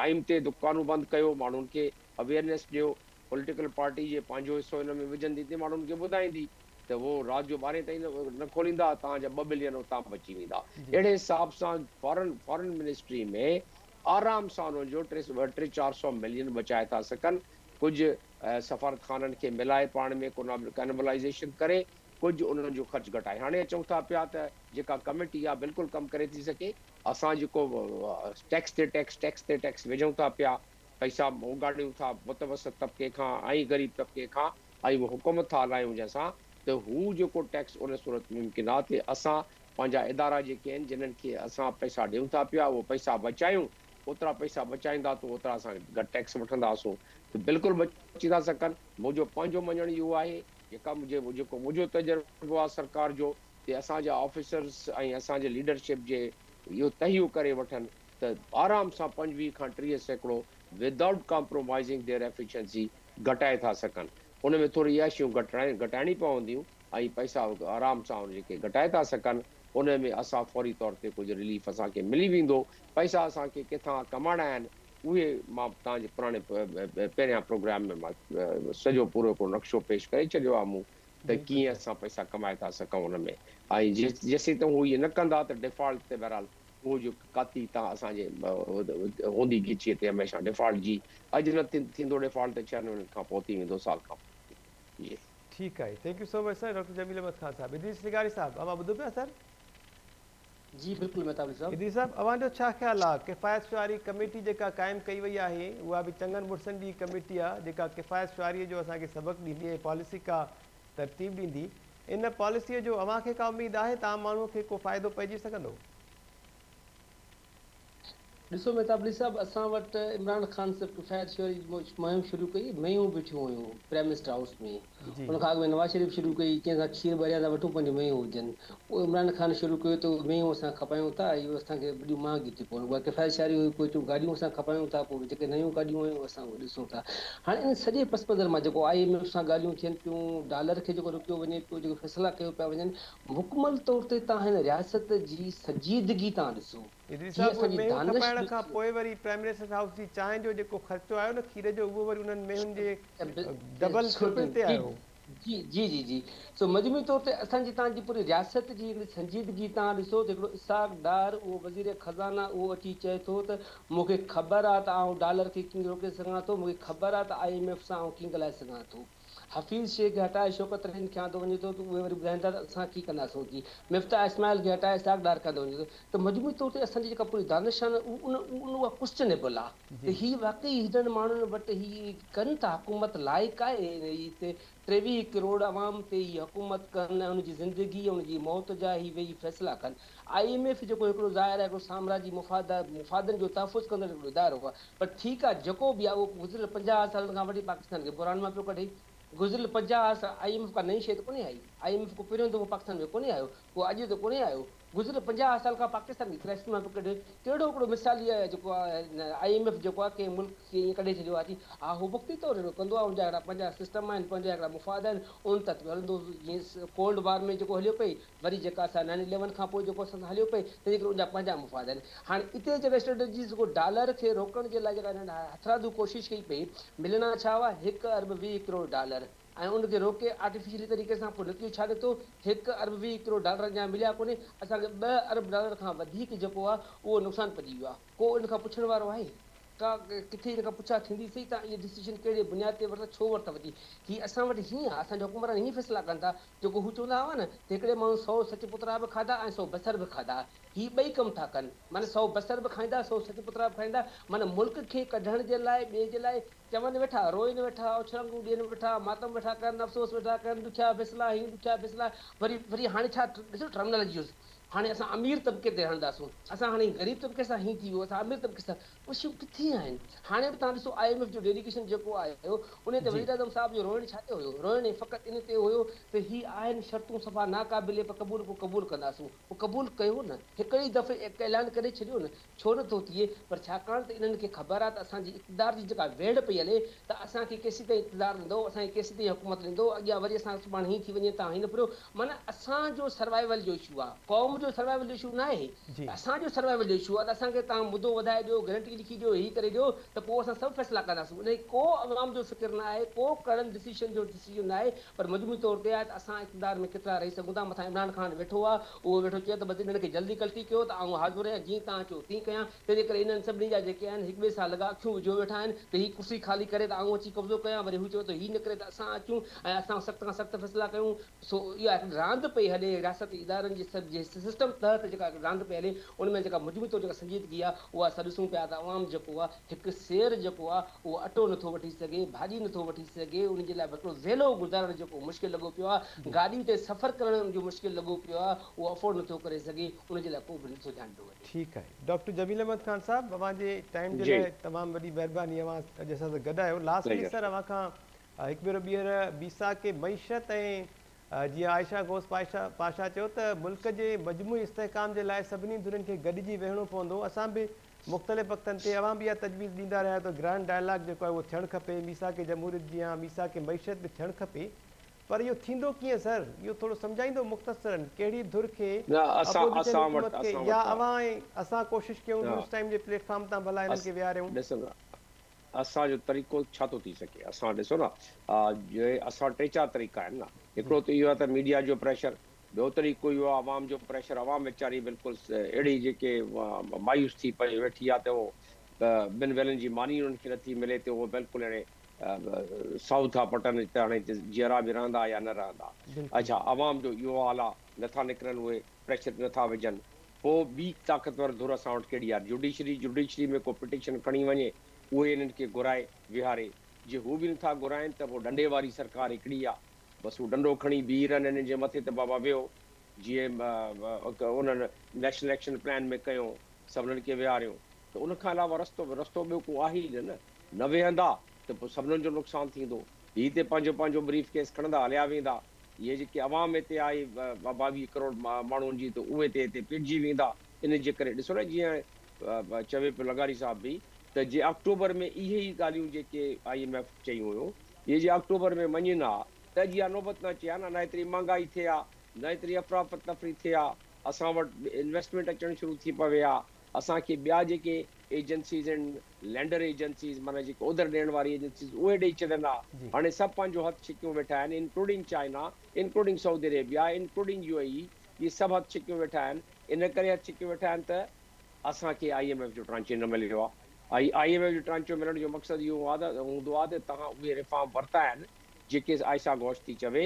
ٽائيم تي دڪانون بند ڪيو ماڻهن کي اويئرنيس ڏيو پوليٽيڪل پارٽي جي پنهنجو حصو ان ۾ وجهندي تي ماڻهن کي ٻڌائيندي ته هو رات جو ٻارهين تائين نه کوليندا تهان جا ٻه بلين اتان بچي ويندا اهڙي حساب سان فارن فارن منسٽري ۾ آرام سان ان جو ٽي ٽي چار سو ملين بچائي ٿا سگهن ڪجهه سفارتخانن کي ملائي پاڻ ۾ ڪئنبلائيزيشن ڪري ڪجهه انهن جو خرچ گهٽائي هاڻي چئون ٿا پيا ته جيڪا ڪميٽي آهي بلڪل ڪم ڪري ٿي سگهي اسان جيڪو ٽيڪس تي ٽيڪس ٽيڪس تي ٽيڪس وجهون ٿا پيا پئسا اوڳاڙيون ٿا متوسط طبقي کان ۽ غريب طبقي کان ۽ اهو حڪومت ٿا هلايون جنهن سان ته هو جيڪو ٽيڪس ان صورت ممڪن آهي ته اسان پنهنجا ادارا جيڪي آهن جنهن کي اسان پئسا ڏيون ٿا پيا اهو پئسا بچايون اوترا پئسا بچائيندا تون اوترا اسان گهٽ ٽيڪس وٺندا سون تون بلڪل بچي ٿا سگهن منهنجو پنهنجو مڃڻ اهو آهي جيڪا منهنجي جيڪو منهنجو تجربو آهي سرڪار جو تي اسان جا آفيسرس ۽ اسان جي ليڊرشپ جي اهو تهيو ڪري وٺن ته آرام سان پنجويهه کان ٽيهه سيڪڙو ودائوٽ ڪامپرومائزنگ ديئر ايفيشنسي گهٽائي ٿا سگهن ان ۾ ٿوري عياشيون گهٽائي گهٽائڻي پونديون ۽ پئسا آرام سان جيڪي گهٽائي ٿا سگهن ان ۾ اسان فوري طور تي ڪجهه رليف اسان کي ملي ويندو پئسا اسان کي ڪٿان ڪمائڻا آهن اهي مان توهان جي پراڻي پهريان پروگرام ۾ مان سڄو پورو هڪڙو نقشو پيش ڪري ڇڏيو آهي مون ته ڪيئن اسان پئسا ڪمائي ٿا سگهون ان ۾ ۽ جيسين ته هو اهي نه ڪندا ته ڊيفالٽ تي بهرحال اهو جو ڪاتي تان اسان جي هوندي گچيء تي هميشه ڊيفالٽ جي اڄ نه ٿيندو ڊيفالٽ ته ڇهن مهينن کان پوء ٿي ويندو سال کان پوء جي ٺيڪ آهي thank you so much sir doctor جميل احمد خان صاحب ادريس سگاري صاحب امان ٻڌو پيا سر. جي بلڪل مھتاب علي صاحب. ادري صاحب اوھان جو ڇا خيال آ ڪفايت شعاري ڪميٽي جيڪا قائم ڪئي وئي آھي اھا به چڱن مڙسن جي ڪميٽي آ جيڪا ڪفايت شعاري جو اسان کي سبق ڏيندي ۽ پاليسي ڪا ترتيب ڏيندي ان پاليسي جو اوھان کي ڪا اميد آھي ته عام ماڻھو کي ڪو فائدو پئجي سگھندو. ڏسو مهتاب علي صاحب اسان وٽ عمران خان صرف ڪفايت شوري جي مهم شروع ڪئي مينهون بيٺيون هيون پرائمنسٽر هائوس ۾ ان کان اڳ ۾ نواز شريف شروع ڪئي ڪنهن کان کير ٻريان ٿا وٺون پنهنجون مينهون هجن اهو عمران خان شروع ڪيو ته اهي مينهون اسان کپايون ٿا اهو اسان کي وڏيون مهانگيون ٿيون پون اها ڪفايت شاري هئي پوء چون گاڏيون اسان کپايون ٿا پوء جيڪي نيون گاڏيون آيون اسان اهي ڏسون ٿا هاڻي ان سڄي پس منظر مان جيڪو آء ايم ايف سان ڳالهيون ٿين پيون ڊالر کي جيڪو روڪيو وڃي پيو جيڪي فيصلا ڪيو پيا وڃن مڪمل طور تي تان هن رياست جي سنجيدگي تان ڏسو ادريس صاحب اهي مينهون کپائڻ کان پوء وري پرائمريسس هائوس جي چانهه جو جيڪو خرچو آيو نه کير جو اهو وري انهن مينهن جي ڊبل ٽرپل تي آيو. جي جي جي جي سو مجموعي طور تي اسان جي تان جي پوري رياست جي هڪڙي سنجيدگي تان ڏسو ته هڪڙو اسحاق ڊار اهو وزير خزانه اهو اچي چئي ٿو ته مون کي خبر آ ته آئون ڊالر کي ڪيئن روڪي سگهان ٿو مون کي خبر آ ته آء ايم ايف سان آئون ڪيئن ڳالهائي سگهان ٿو. حفيظ شيخ کي هٽائي شوڪت رحيم کي آندو وڃي ٿو ته اهي وري ٻڌائين ٿا ته اسان ڪي ڪندا سون ڪي مفتاح اسماعيل کي هٽائي اسحاق ڊار کي آندو وڃي ٿو ته مجموعي طور تي اسان جي جيڪا پوري دانشان ان ان اها ڪوسچنيبل آ ته هي واقعي هيڏن ماڻهن وٽ هي ڪن ٿا حڪومت لائق آهي ان هي تي ٽيويهه ڪروڙ عوام تي هي حڪومت ڪن ۽ ان جي زندگي ۽ ان جي موت جا هي ويهي فيصلا ڪن آء ايم ايف جيڪو هڪڙو ظاهر آهي هڪڙو سامراجي مفاد مفادن جو تحفظ ڪندڙ هڪڙو ادارو آهي پر ٺيڪ آهي جيڪو به آهي اهو گذريل پنجاهه سالن کان وٺي پاڪستان کي بحران مان پيو ڪڍي گذريل پنجاهه سال آء ايم ايف ڪا نئين شيء ته ڪونهي آئي آء ايم ايف ڪو پهريون دفعو پاڪستان ۾ ڪونهي آيو ڪو اڄ ته ڪونهي آيو گذريل پنجاهه سال کان پاڪستان کي ڪرائسس مان پيو ڪڍي ڪهڙو هڪڙو مثالي جيڪو آهي آء ايم ايف جيڪو آهي ڪنهن ملڪ کي ايئن ڪڍي ڇڏيو آهي ها هو وقتي طور اهڙو ڪندو آهي ان جا هڪڙا پنهنجا سسٽم آهن پنهنجا هڪڙا مفاد آهن ان تحت به هلندو جيئن ڪولڊ وار ۾ جيڪو هليو پئي وري جيڪا اسان نائين اليون کان پوء جيڪو اسان سان هليو پئي تنهنجي ڪري ان جا پنهنجا مفاد آهن هاڻي اتي جيڪا اسٽريٽجي جيڪو ڊالر کي روڪڻ جي لاء جيڪا هنن هٿراڌو ڪوشش ڪئي پئي ملڻا ڇا هئا هڪ ارب ويهه ڪروڙ ڊالر ۽ ان کي روڪي آرٽيفيشلي طريقي سان پوء نتيجو ڇا نڪتو هڪ ارب ويهه ڪروڙ ڊالر اڃا مليا ڪونهي اسان کي ٻه ارب ڊالر کان وڌيڪ جيڪو آهي اهو نقصان پڄي ويو آهي. ڪو ان کان پڇڻ وارو آهي؟ ڪا ڪٿي ان کان پڇا ٿيندي سهي ته اهي ڊسيزن ڪهڙي بنياد تي ورتا، ڇو ورتا وڃي؟ هي اسان وٽ هيئن آهي، اسان جا حڪمران هيئن فيصلا ڪن ٿا، جيڪو هو چوندا هئا نه ته هڪڙي ماڻهو سئو سچ پترا به کاڌا ۽ سئو بصر به کاڌا، هي ٻئي ڪم ٿا ڪن، معنيٰ سئو بصر به کائيندا، سئو سچ پترا به کائيندا، معنيٰ ملڪ کي ڪڍڻ جي لاء، ٻئي جي لاء چون ويٺا، روئين ويٺا، اڇرنگون ڏين ويٺا، ماتم ويٺا ڪرن، افسوس ويٺا ڪرن، ڏکيا فيصلا هيئن ڏکيا فيصلا، وري وري هاڻي ڇا ڏسو ٽرمنالاجيز، هاڻي اسان امير طبقي تي هڻنداسون، اسان هاڻي غريب طبقي سان هين ٿي ويو، اسان امير طبقي سان اهي شيون ڪٿي آهن؟ هاڻي به توهان ڏسو آء ايم ايف جو ڊيليگيشن جيڪو آيو انهي تي جي. وزيراعظم صاحب جو روئڻ ڇا تي هيو؟ روئڻ هي فقط ان تي هيو ته هي آهن شرطون صفا ناقابل پر قبول ڪو قبول ڪنداسون، پوء قبول ڪيو نه، هڪڙي ئي دفعي ايڪ اعلان ڪري ڇڏيو نه ڇو نه ٿو ٿئي پر ڇاڪاڻ ته انهن کي خبر آهي ته اسان جي اقتدار جي جيڪا ويڙهه پئي هلي ته اسان کي ڪيسين تائين اقتدار ڏيندو اسان کي ڪيسين تائين حڪومت ڏيندو اڳيان وري اسان سڀاڻي هيئن ٿي وڃي تان هيئن نه پھريو معنيٰ اسان جو سروائيول جو اشو آهي قوم جو سروائيول جو اشو ناهي ته اسان جو سروائيول جو اشو آهي ته اسان کي تان مدو وڌائي ڏيو گرنٽي لکي ڏيو هي ڪري ڏيو ته پوء اسان سڀ فيصلا ڪنداسون انهي ڪو عوام جو فڪر ناهي ڪو ڪڙن ڊسيشن جو ڊسيجن ناهي پر مجموعي طور تي آهي ته اسان اقتدار ۾ ڪيترا رهي سگهون ٿا، مٿان عمران خان ويٺو آهي، اهو ويٺو چئي ته بس انهن کي جلدي ڪلٽي ڪيو ته آئون حاضر آهيان، جيئن توهان چئو تيئن ڪيان، تنهنجي ڪري انهن سڀني جا جيڪي آهن هڪ ٻئي سان لڳا اکيون وجهيو ويٺا آهن ته هي ڪرسي خالي ڪري ته آئون اچي قبضو ڪيان، وري هو چئي ٿو هي نه ڪري ته اسان اچون ۽ اسان سخت کان سخت فيصلا ڪيون، سو اها هڪڙي راند پئي هلي ۽ رياستي ادارن جي سسٽم تحت جيڪا هڪڙي راند پئي هلي ان ۾ جيڪا مجموعي طور جيڪا سنجيدگي آهي اها اسان ڏسون پيا ته عوام جيڪو آهي هڪ سير جيڪو آ اهو اٽو نٿو وٺي سگهي، ڀاڄي نٿو وٺي سگهي، ان جي لاء به هڪڙو ويلو گذارڻ جيڪو مشڪل لڳو پيو آ، گاڏي تي سفر ڪرڻ ان جو مشڪل لڳو پيو آ، اهو افورڊ نٿو ڪري سگهي، ان جي لاء ڪو به نٿو ڌيان ڏنو وڃي. ٺيڪ آهي ڊاڪٽر جميل احمد خان صاحب اوهان جي ٽائيم جي لاء تمام وڏي مهرباني اوهان اڄ اسان سان گڏ آهيو لاسٽ ۾ سر اوهان کان هڪ ڀيرو ٻيهر بيساک معيشت ۽ جيئن عائشه غوث پاشا چيو ته ملڪ جي مجموعي استحڪام جي لاء سڀني ڌرين کي گڏجي ويهڻو پوندو اسان به مختلف وقتن تي اوهان به اها تجويز ڏيندا رهيا آهيو ته گرانڊ ڊائلاگ جيڪو آهي اهو ٿيڻ کپي، ميثاق جمهوريت جيان ميثاق معيشت به ٿيڻ کپي پر اهو ٿيندو ڪيئن سر؟ اهو ٿورو سمجهائيندو مختصراً ڪهڙي ڌر کي، اپوزيشن حڪومت کي يا اوهان ۽ اسان ڪوشش ڪيون نيوز ٽائيم جي پليٽ فارم تان ڀلا انهن کي ويهاريون. ڏسو نه اسان جو طريقو ڇا ٿو ٿي سگهي اسان ڏسو نه اسان ٽي چار طريقا آهن نه هڪڙو ته اهو آهي ته ميڊيا جو پريشر ٻيو طريقو اهو آهي عوام جو پريشر، عوام ويچاري بلڪل اهڙي جيڪي مايوس ٿي پئي ويٺي آهي ته اهو ٻن ويلن جي ماني انهن کي نٿي ملي ته اهو بلڪل اهڙي ساهو ٿا پٽن ته هاڻي جيئرا به رهندا يا نه رهندا. اڇا عوام جو اهو حال آهي نٿا نڪرن اهي پريشر تي نٿا وجهن پوء ٻي طاقتور ڌر اسان وٽ ڪهڙي آهي جوڊيشري، جوڊيشري ۾ ڪو پٽيشن کڻي وڃي اهي انهن کي گهرائي ويهاري جي هو به نٿا گهرائن ته پوء ڏنڊي واري سرڪار هڪڙي آهي بس هو ڊنڊو کڻي بيهي رهن انهن جي مٿي ته بابا ويهو جيئن انهن نيشنل ايڪشن پلان ۾ ڪيو سڀنن کي ويهاريو ته ان کان علاوه رستو رستو ٻيو ڪو آهي ئي نه نه نه ويهندا ته پوء سڀنن جو نقصان ٿيندو هي تي پنهنجو پنهنجو بريف ڪيس کڻندا هليا ويندا اهي جيڪي عوام هتي آهي ٻاويهه ڪروڙ ماڻهن جي ته اهي تي هتي پيٽجي ويندا انهن جي ڪري ڏسو نه جيئن چوي پيو لغاري صاحب به ته جي آڪٽوبر ۾ اهي ئي ڳالهيون جيڪي آء ايم ايف چيون هيون اهي جي آڪٽوبر ۾ مڃين ها ته اڄ اها نوبت نه اچي ها نه ايتري مهانگائي ٿئي ها نه ايتري افراتفري ٿئي ها اسان وٽ انويسٽمينٽ اچڻ شروع ٿي پوي ها اسان کي ٻيا جيڪي ايجنسيز آهن لينڊر ايجنسيز معنيٰ جيڪي اوڌر ڏيڻ واري ايجنسيز اهي ڏئي ڇڏن ها هاڻي سڀ پنهنجو هٿ ڇڪيون ويٺا آهن including China including Saudi Arabia including U A E اهي سڀ هٿ ڇڪيون ويٺا آهن ان ڪري هٿ ڇڪي ويٺا آهن ته اسان کي آء ايم ايف جو ٽرانچي نه مليو آهي ۽ آء ايم ايف جو ٽرانچو ملڻ جو مقصد اهو هوندو آهي ته توهان اهي ريفارم ورتا آهن جيڪي عائشه گهوش ٿي چوي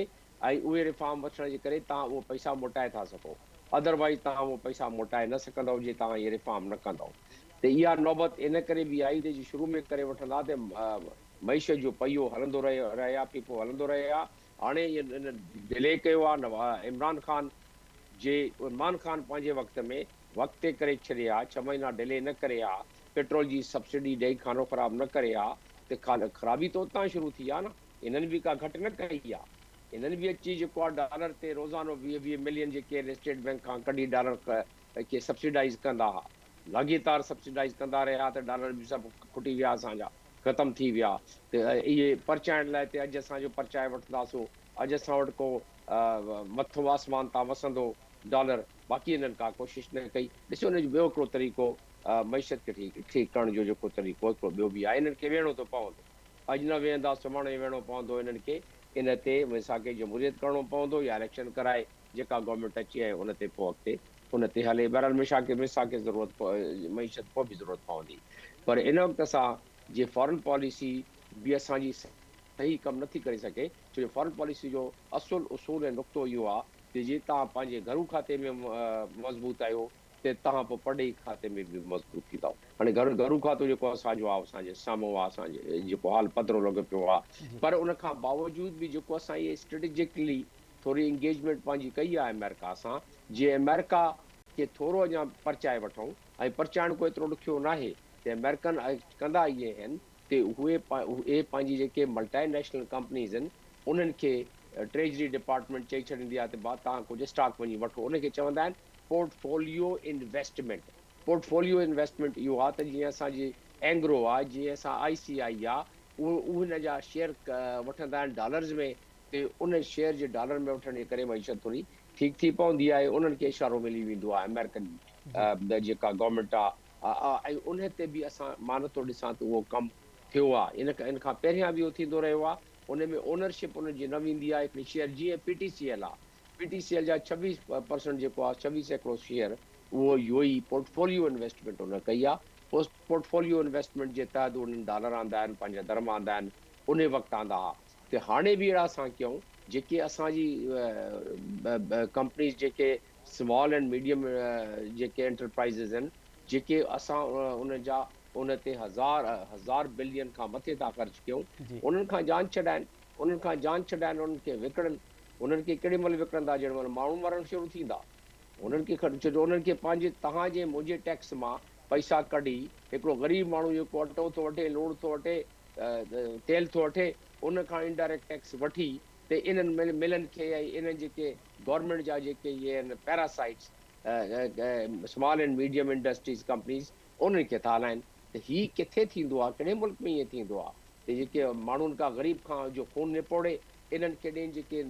۽ اهي ريفارم وٺڻ جي ڪري توهان اهي پئسا موٽائي ٿا سگهو اڌروائيز توهان اهي پئسا موٽائي نه سگهندؤ جي توهان اهي ريفارم نه ڪندؤ ته اها نوبت ان ڪري به آئي ته جي شروع ۾ ڪري وٺندا ته معيشت جو پهيو هلندو رهي ها پيپو هلندو رهي ها هاڻي ان ڊلي ڪيو آ عمران خان جي عمران خان پنهنجي وقت ۾ وقت تي ڪري ڇڏي ها ڇهه مهينا ڊلي نه ڪري ها پيٽرول جي سبسڊي ڏئي کانو خراب نه ڪري ها ته خرابي ته اتان شروع ٿي آ نه هنن به ڪا گهٽ نه ڪئي آ هنن به اچي جيڪو آ ڊالر تي روزانو ويهه ويهه ملين جي ڪير اسٽيٽ بينڪ کان ڪڍي ڊالر کي سبسڊائيز ڪندا ها لاڳيتار سبسڊائيز ڪندا رهيا ته ڊالر به سڀ کٽي ويا اسان جا. ختم ٿي ويا ته اهي پرچائڻ لاء ته اڄ اسان جو پرچائي وٺنداسون، اڄ اسان وٽ ڪو مٿو آسمان تان وسندو ڊالر، باقي انهن ڪا ڪوشش نه ڪئي. ڏسو ان جو ٻيو هڪڙو طريقو معيشت کي ٺيڪ ڪرڻ جو جيڪو طريقو هڪڙو ٻيو به آهي، انهن کي ويهڻو ٿو پوندو. اڄ نه ويهندا سڀاڻي ويهڻو پوندو انهن کي، ان تي ويساهه ڪي جمهوريت ڪرڻو پوندو يا اليڪشن ڪرائي جيڪا گورنمينٽ اچي ۽ ان تي پوء اڳتي ان تي هلي بهرحال ميشا کي ميسا کي ضرورت معيشت پوء به ضرورت پوندي پر ان وقت اسان جي فارن پاليسي به اسان جي صحيح ڪم نه ٿي ڪري سگهي ڇو جو فارن پاليسي جو اصل اصول ۽ نقطو اهو آهي ته جي توهان پنهنجي گهرو کاتي ۾ مضبوط آهيو ته توهان پوء پرڏيهي کاتي ۾ به مضبوط ٿيندؤ هاڻي گهر گهرو کاتو جيڪو اسان جو آهي اسان جي سامهون آهي اسان جي جيڪو حال پڌرو لڳو پيو آهي پر ان کان باوجود به جيڪو اسان اهي اسٽريٽجڪلي ٿوري انگيجمينٽ پنهنجي ڪئي آهي آمريڪا سان جي آمريڪا کي ٿورو اڃا پرچائي وٺون ۽ پرچائڻ ڪو ايترو ڏکيو ناهي تي آمريڪن ايڪٽ ڪندا ئي اهن تي اهي اهي پنهنجي جيڪي ملٽائي نيشنل ڪمپنيز اهن انهن کي ٽريجري ڊپارٽمينٽ چئي ڇڏيندي آهي ته ڀا توهان ڪجهه اسٽاڪ وڃي وٺو ان کي چوندا آهن پورٽفوليو انويسٽمينٽ پورٽفوليو انويسٽمينٽ اهو آهي ته جيئن اسان جي اينگرو آهي جيئن اسان آئي سي آئي آهي اهي ان جا شيئر وٺندا آهن ڊالرز ۾ تي ان شيئر جي ڊالر ۾ وٺڻ جي ڪري معيشت ٿوري ٺيڪ ٿي پوندي آهي انهن کي اشارو ملي ويندو آهي آمريڪن جيڪا گورنمينٽ آ ۽ انهي تي به اسان مان نٿو ڏسان ته اهو ڪم ٿيو آ ان ان کان پهريان به اهو ٿيندو رهيو آ انهي ۾ اونرشپ انهن جي نه ويندي آ هڪڙي شيئر جيئن پي ٽي سي ايل آ پي ٽي سي ايل جا ڇويهه پرسنٽ جيڪو آ ڇويهه سيڪڙو شيئر اهو يو اي پورٽفوليو انويسٽمينٽ انهن ڪئي آ پورٽفوليو انويسٽمينٽ جي تحت انهن ڊالر آندا آهن پنهنجا درهم آندا آهن انهي وقت آندا ها ته هاڻي به اهڙا اسان ڪيون جيڪي اسان جي ڪمپنيز جيڪي سمال اينڊ ميڊيم جيڪي انٽرپرائيزز آهن جيڪي اسان انهن جا ان تي هزار هزار بلين کان مٿي ٿا خرچ ڪيون انهن کان جان ڇڏائن انهن کان جان ڇڏائن انهن کي وڪڻن انهن کي ڪهڙي مهل وڪڻندا جهڙي مهل ماڻهو مرڻ شروع ٿيندا انهن کي خرچ جو انهن کي پنهنجي توهان جي منهنجي ٽيڪس مان پئسا ڪڍي هڪڙو غريب ماڻهو جيڪو اٽو ٿو وٺي لوڻ ٿو وٺي تيل ٿو وٺي ان کان انڊائريڪٽ ٽيڪس وٺي تي انهن ملن کي ۽ انهن جيڪي گورنمينٽ جا جيڪي اهي آهن parasites small and medium industries companies انهن کي ٿا هلائن ته هي ڪٿي ٿيندو آهي ڪهڙي ملڪ ۾ ائين ٿيندو آهي ته جيڪي ماڻهن کان غريب کان جو خون نپوڙي انهن کي ڏين جيڪي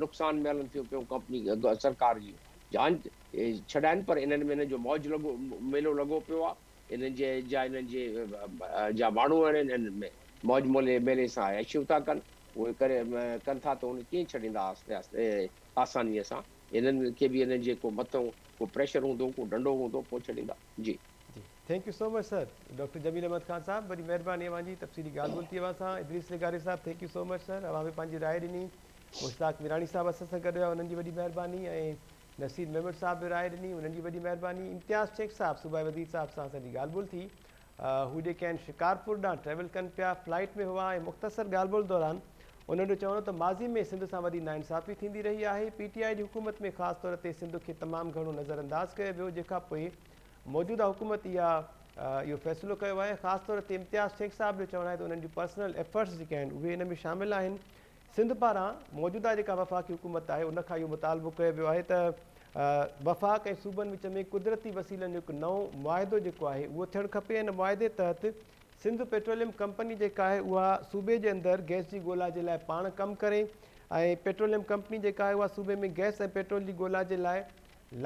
نقصان ۾ هلن ٿيون پيون ڪمپني سرڪار جي جان ڇڏائن پر انهن ۾ انهن جو موج لڳو ميلو لڳو پيو آهي انهن جي جا انهن جي جا ماڻهو آهن انهن ۾ موج مولي ميلي سان عياشيون ٿا ڪن اهي ڪري ڪن ٿا ته ان ڪيئن ڇڏيندا آهستي آهستي آسانيء سان انهن کي به انهن جي ڪو مٿئون ڪو پريشر هوندو ڪو ڊنڊو هوندو پوء ڇڏيندا جي. جي thank you so much sir doctor جميل احمد خان صاحب وڏي مهرباني اوهان جي تفصيلي ڳالهه ٻولهه ٿي اوهان سان ادريس لغاري صاحب thank you so much sir اوهان به پنهنجي راء ڏني مشتاق ميراڻي صاحب اسان سان گڏ هيا انهن جي وڏي مهرباني ۽ نصير ميمڻ صاحب به راء ڏني، انهن جي وڏي مهرباني. امتياز شيخ صاحب صوبائي وزير صاحب سان اسان جي ڳالهه ٻولهه ٿي. هو جيڪين شڪارپور ڏانهن ٽريول ڪن پيا، فلائيٽ ۾ هئا ۽ مختصر ڳالهه ٻولهه دوران انهن جو چوڻ هو ته ماضي ۾ سنڌ سان وڏي ناانصافي ٿيندي رهي آهي، پي ٽي آء جي حڪومت ۾ خاص طور تي سنڌ کي تمام گهڻو نظرانداز ڪيو ويو، جنهن کان پوء موجوده حڪومت اها اهو فيصلو ڪيو آهي، خاص طور تي امتياز شيخ صاحب جو چوڻ آهي ته انهن جون پرسنل ايفرٽس جيڪي آهن اهي ان ۾ شامل آهن، سنڌ پاران موجوده جيڪا وفاقي حڪومت آهي ان کان اهو مطالبو ڪيو ويو آهي ته وفاق ۽ صوبن وچ ۾ قدرتي وسيلن جو هڪ نئون معاهدو جيڪو آهي اهو ٿيڻ کپي ان معاهدي تحت سنڌ پيٽروليم ڪمپني جيڪا آهي اها صوبي جي اندر گئس جي ڳولا جي لاء پاڻ ڪم ڪري ۽ پيٽروليم ڪمپني جيڪا آهي اها صوبي ۾ گئس ۽ پيٽرول جي ڳولا جي لاء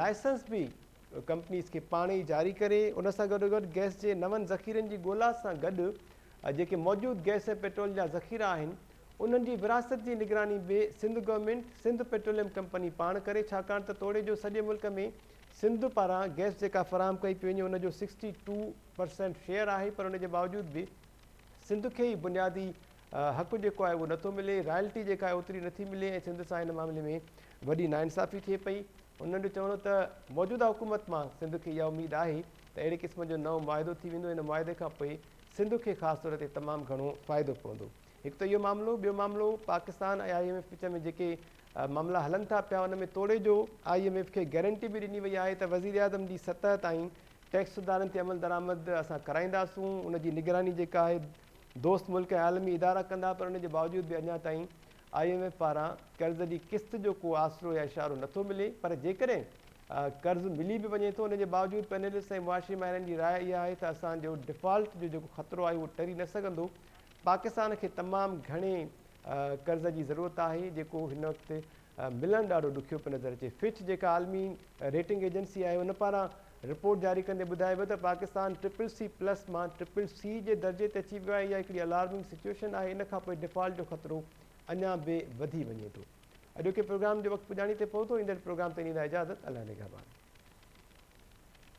لائسنس به ڪمپنيز کي پاڻ ئي جاري ڪري ان سان گڏوگڏ گئس جي نون ذخيرن جي ڳولا سان گڏ جيڪي موجود گئس ۽ پيٽرول جا ذخيرا آهن انهن جي ورهاست جي نگراني به Sindh government Sindh petroleum company پاڻ ڪري ڇاڪاڻ ته توڙي جو سڄي ملڪ ۾ سنڌ پاران گئس جيڪا فراهم ڪئي پئي وڃي ان جو سڪسٽي ٽو پرسينٽ شيئر آهي پر ان جي باوجود به سنڌ کي هي بنيادي حق جيڪو آهي اهو نٿو ملي رائلٽي جيڪا آهي اوتري نٿي ملي ۽ سنڌ سان هن معاملي ۾ وڏي ناانصافي ٿئي پئي انهن جو چوڻ هو ته موجوده حڪومت مان سنڌ کي اها اميد آهي ته اهڙي قسم جو نئون معاهدو ٿي ويندو ان معاهدي کان پوء سنڌ کي خاص طور تي تمام گهڻو فائدو پوندو. هڪ ته اهو معاملو، ٻيو معاملو پاڪستان ۽ آء ايم ايف وچ ۾ جيڪي معاملا هلن ٿا پيا ان ۾ توڙي جو آء ايم ايف کي گيرنٽي به ڏني وئي آهي ته وزيراعظم جي سطح تائين ٽيڪس سڌارن تي عملدرآمد اسان ڪرائينداسون ان جي نگراني جيڪا آهي دوست ملڪ ۽ عالمي ادارا ڪندا پر ان جي باوجود به اڃا تائين آء ايم ايف پاران قرض جي قسط جو ڪو آسرو يا اشارو نٿو ملي پر جيڪڏهن قرض ملي به وڃي ٿو، ان جي باوجود پينلسٽس ۽ معاشي ماهرن جي راء اها آهي ته اسان جو ڊفالٽ جو جيڪو خطرو آهي اهو ٽري نه سگهندو، پاڪستان کي تمام گهڻي قرض جي ضرورت آهي جيڪو هن وقت ملڻ ڏاڍو ڏکيو پيو نظر اچي، فچ جيڪا عالمي ريٽنگ ايجنسي آهي ان پاران رپورٽ جاري ڪندي ٻڌايو ويو ته پاڪستان ٽرپل سي پلس مان ٽرپل سي جي درجي تي اچي ويو آهي، اها هڪڙي الارمنگ سچوئيشن آهي، ان کانپوء ڊفالٽ جو خطرو اڃا به وڌي وڃي ٿو. اڄوڪي پروگرام جو وقت پڄاڻي تي پهتو ايندڙ پروگرام تي ڏيندا اجازت الله نگهبان.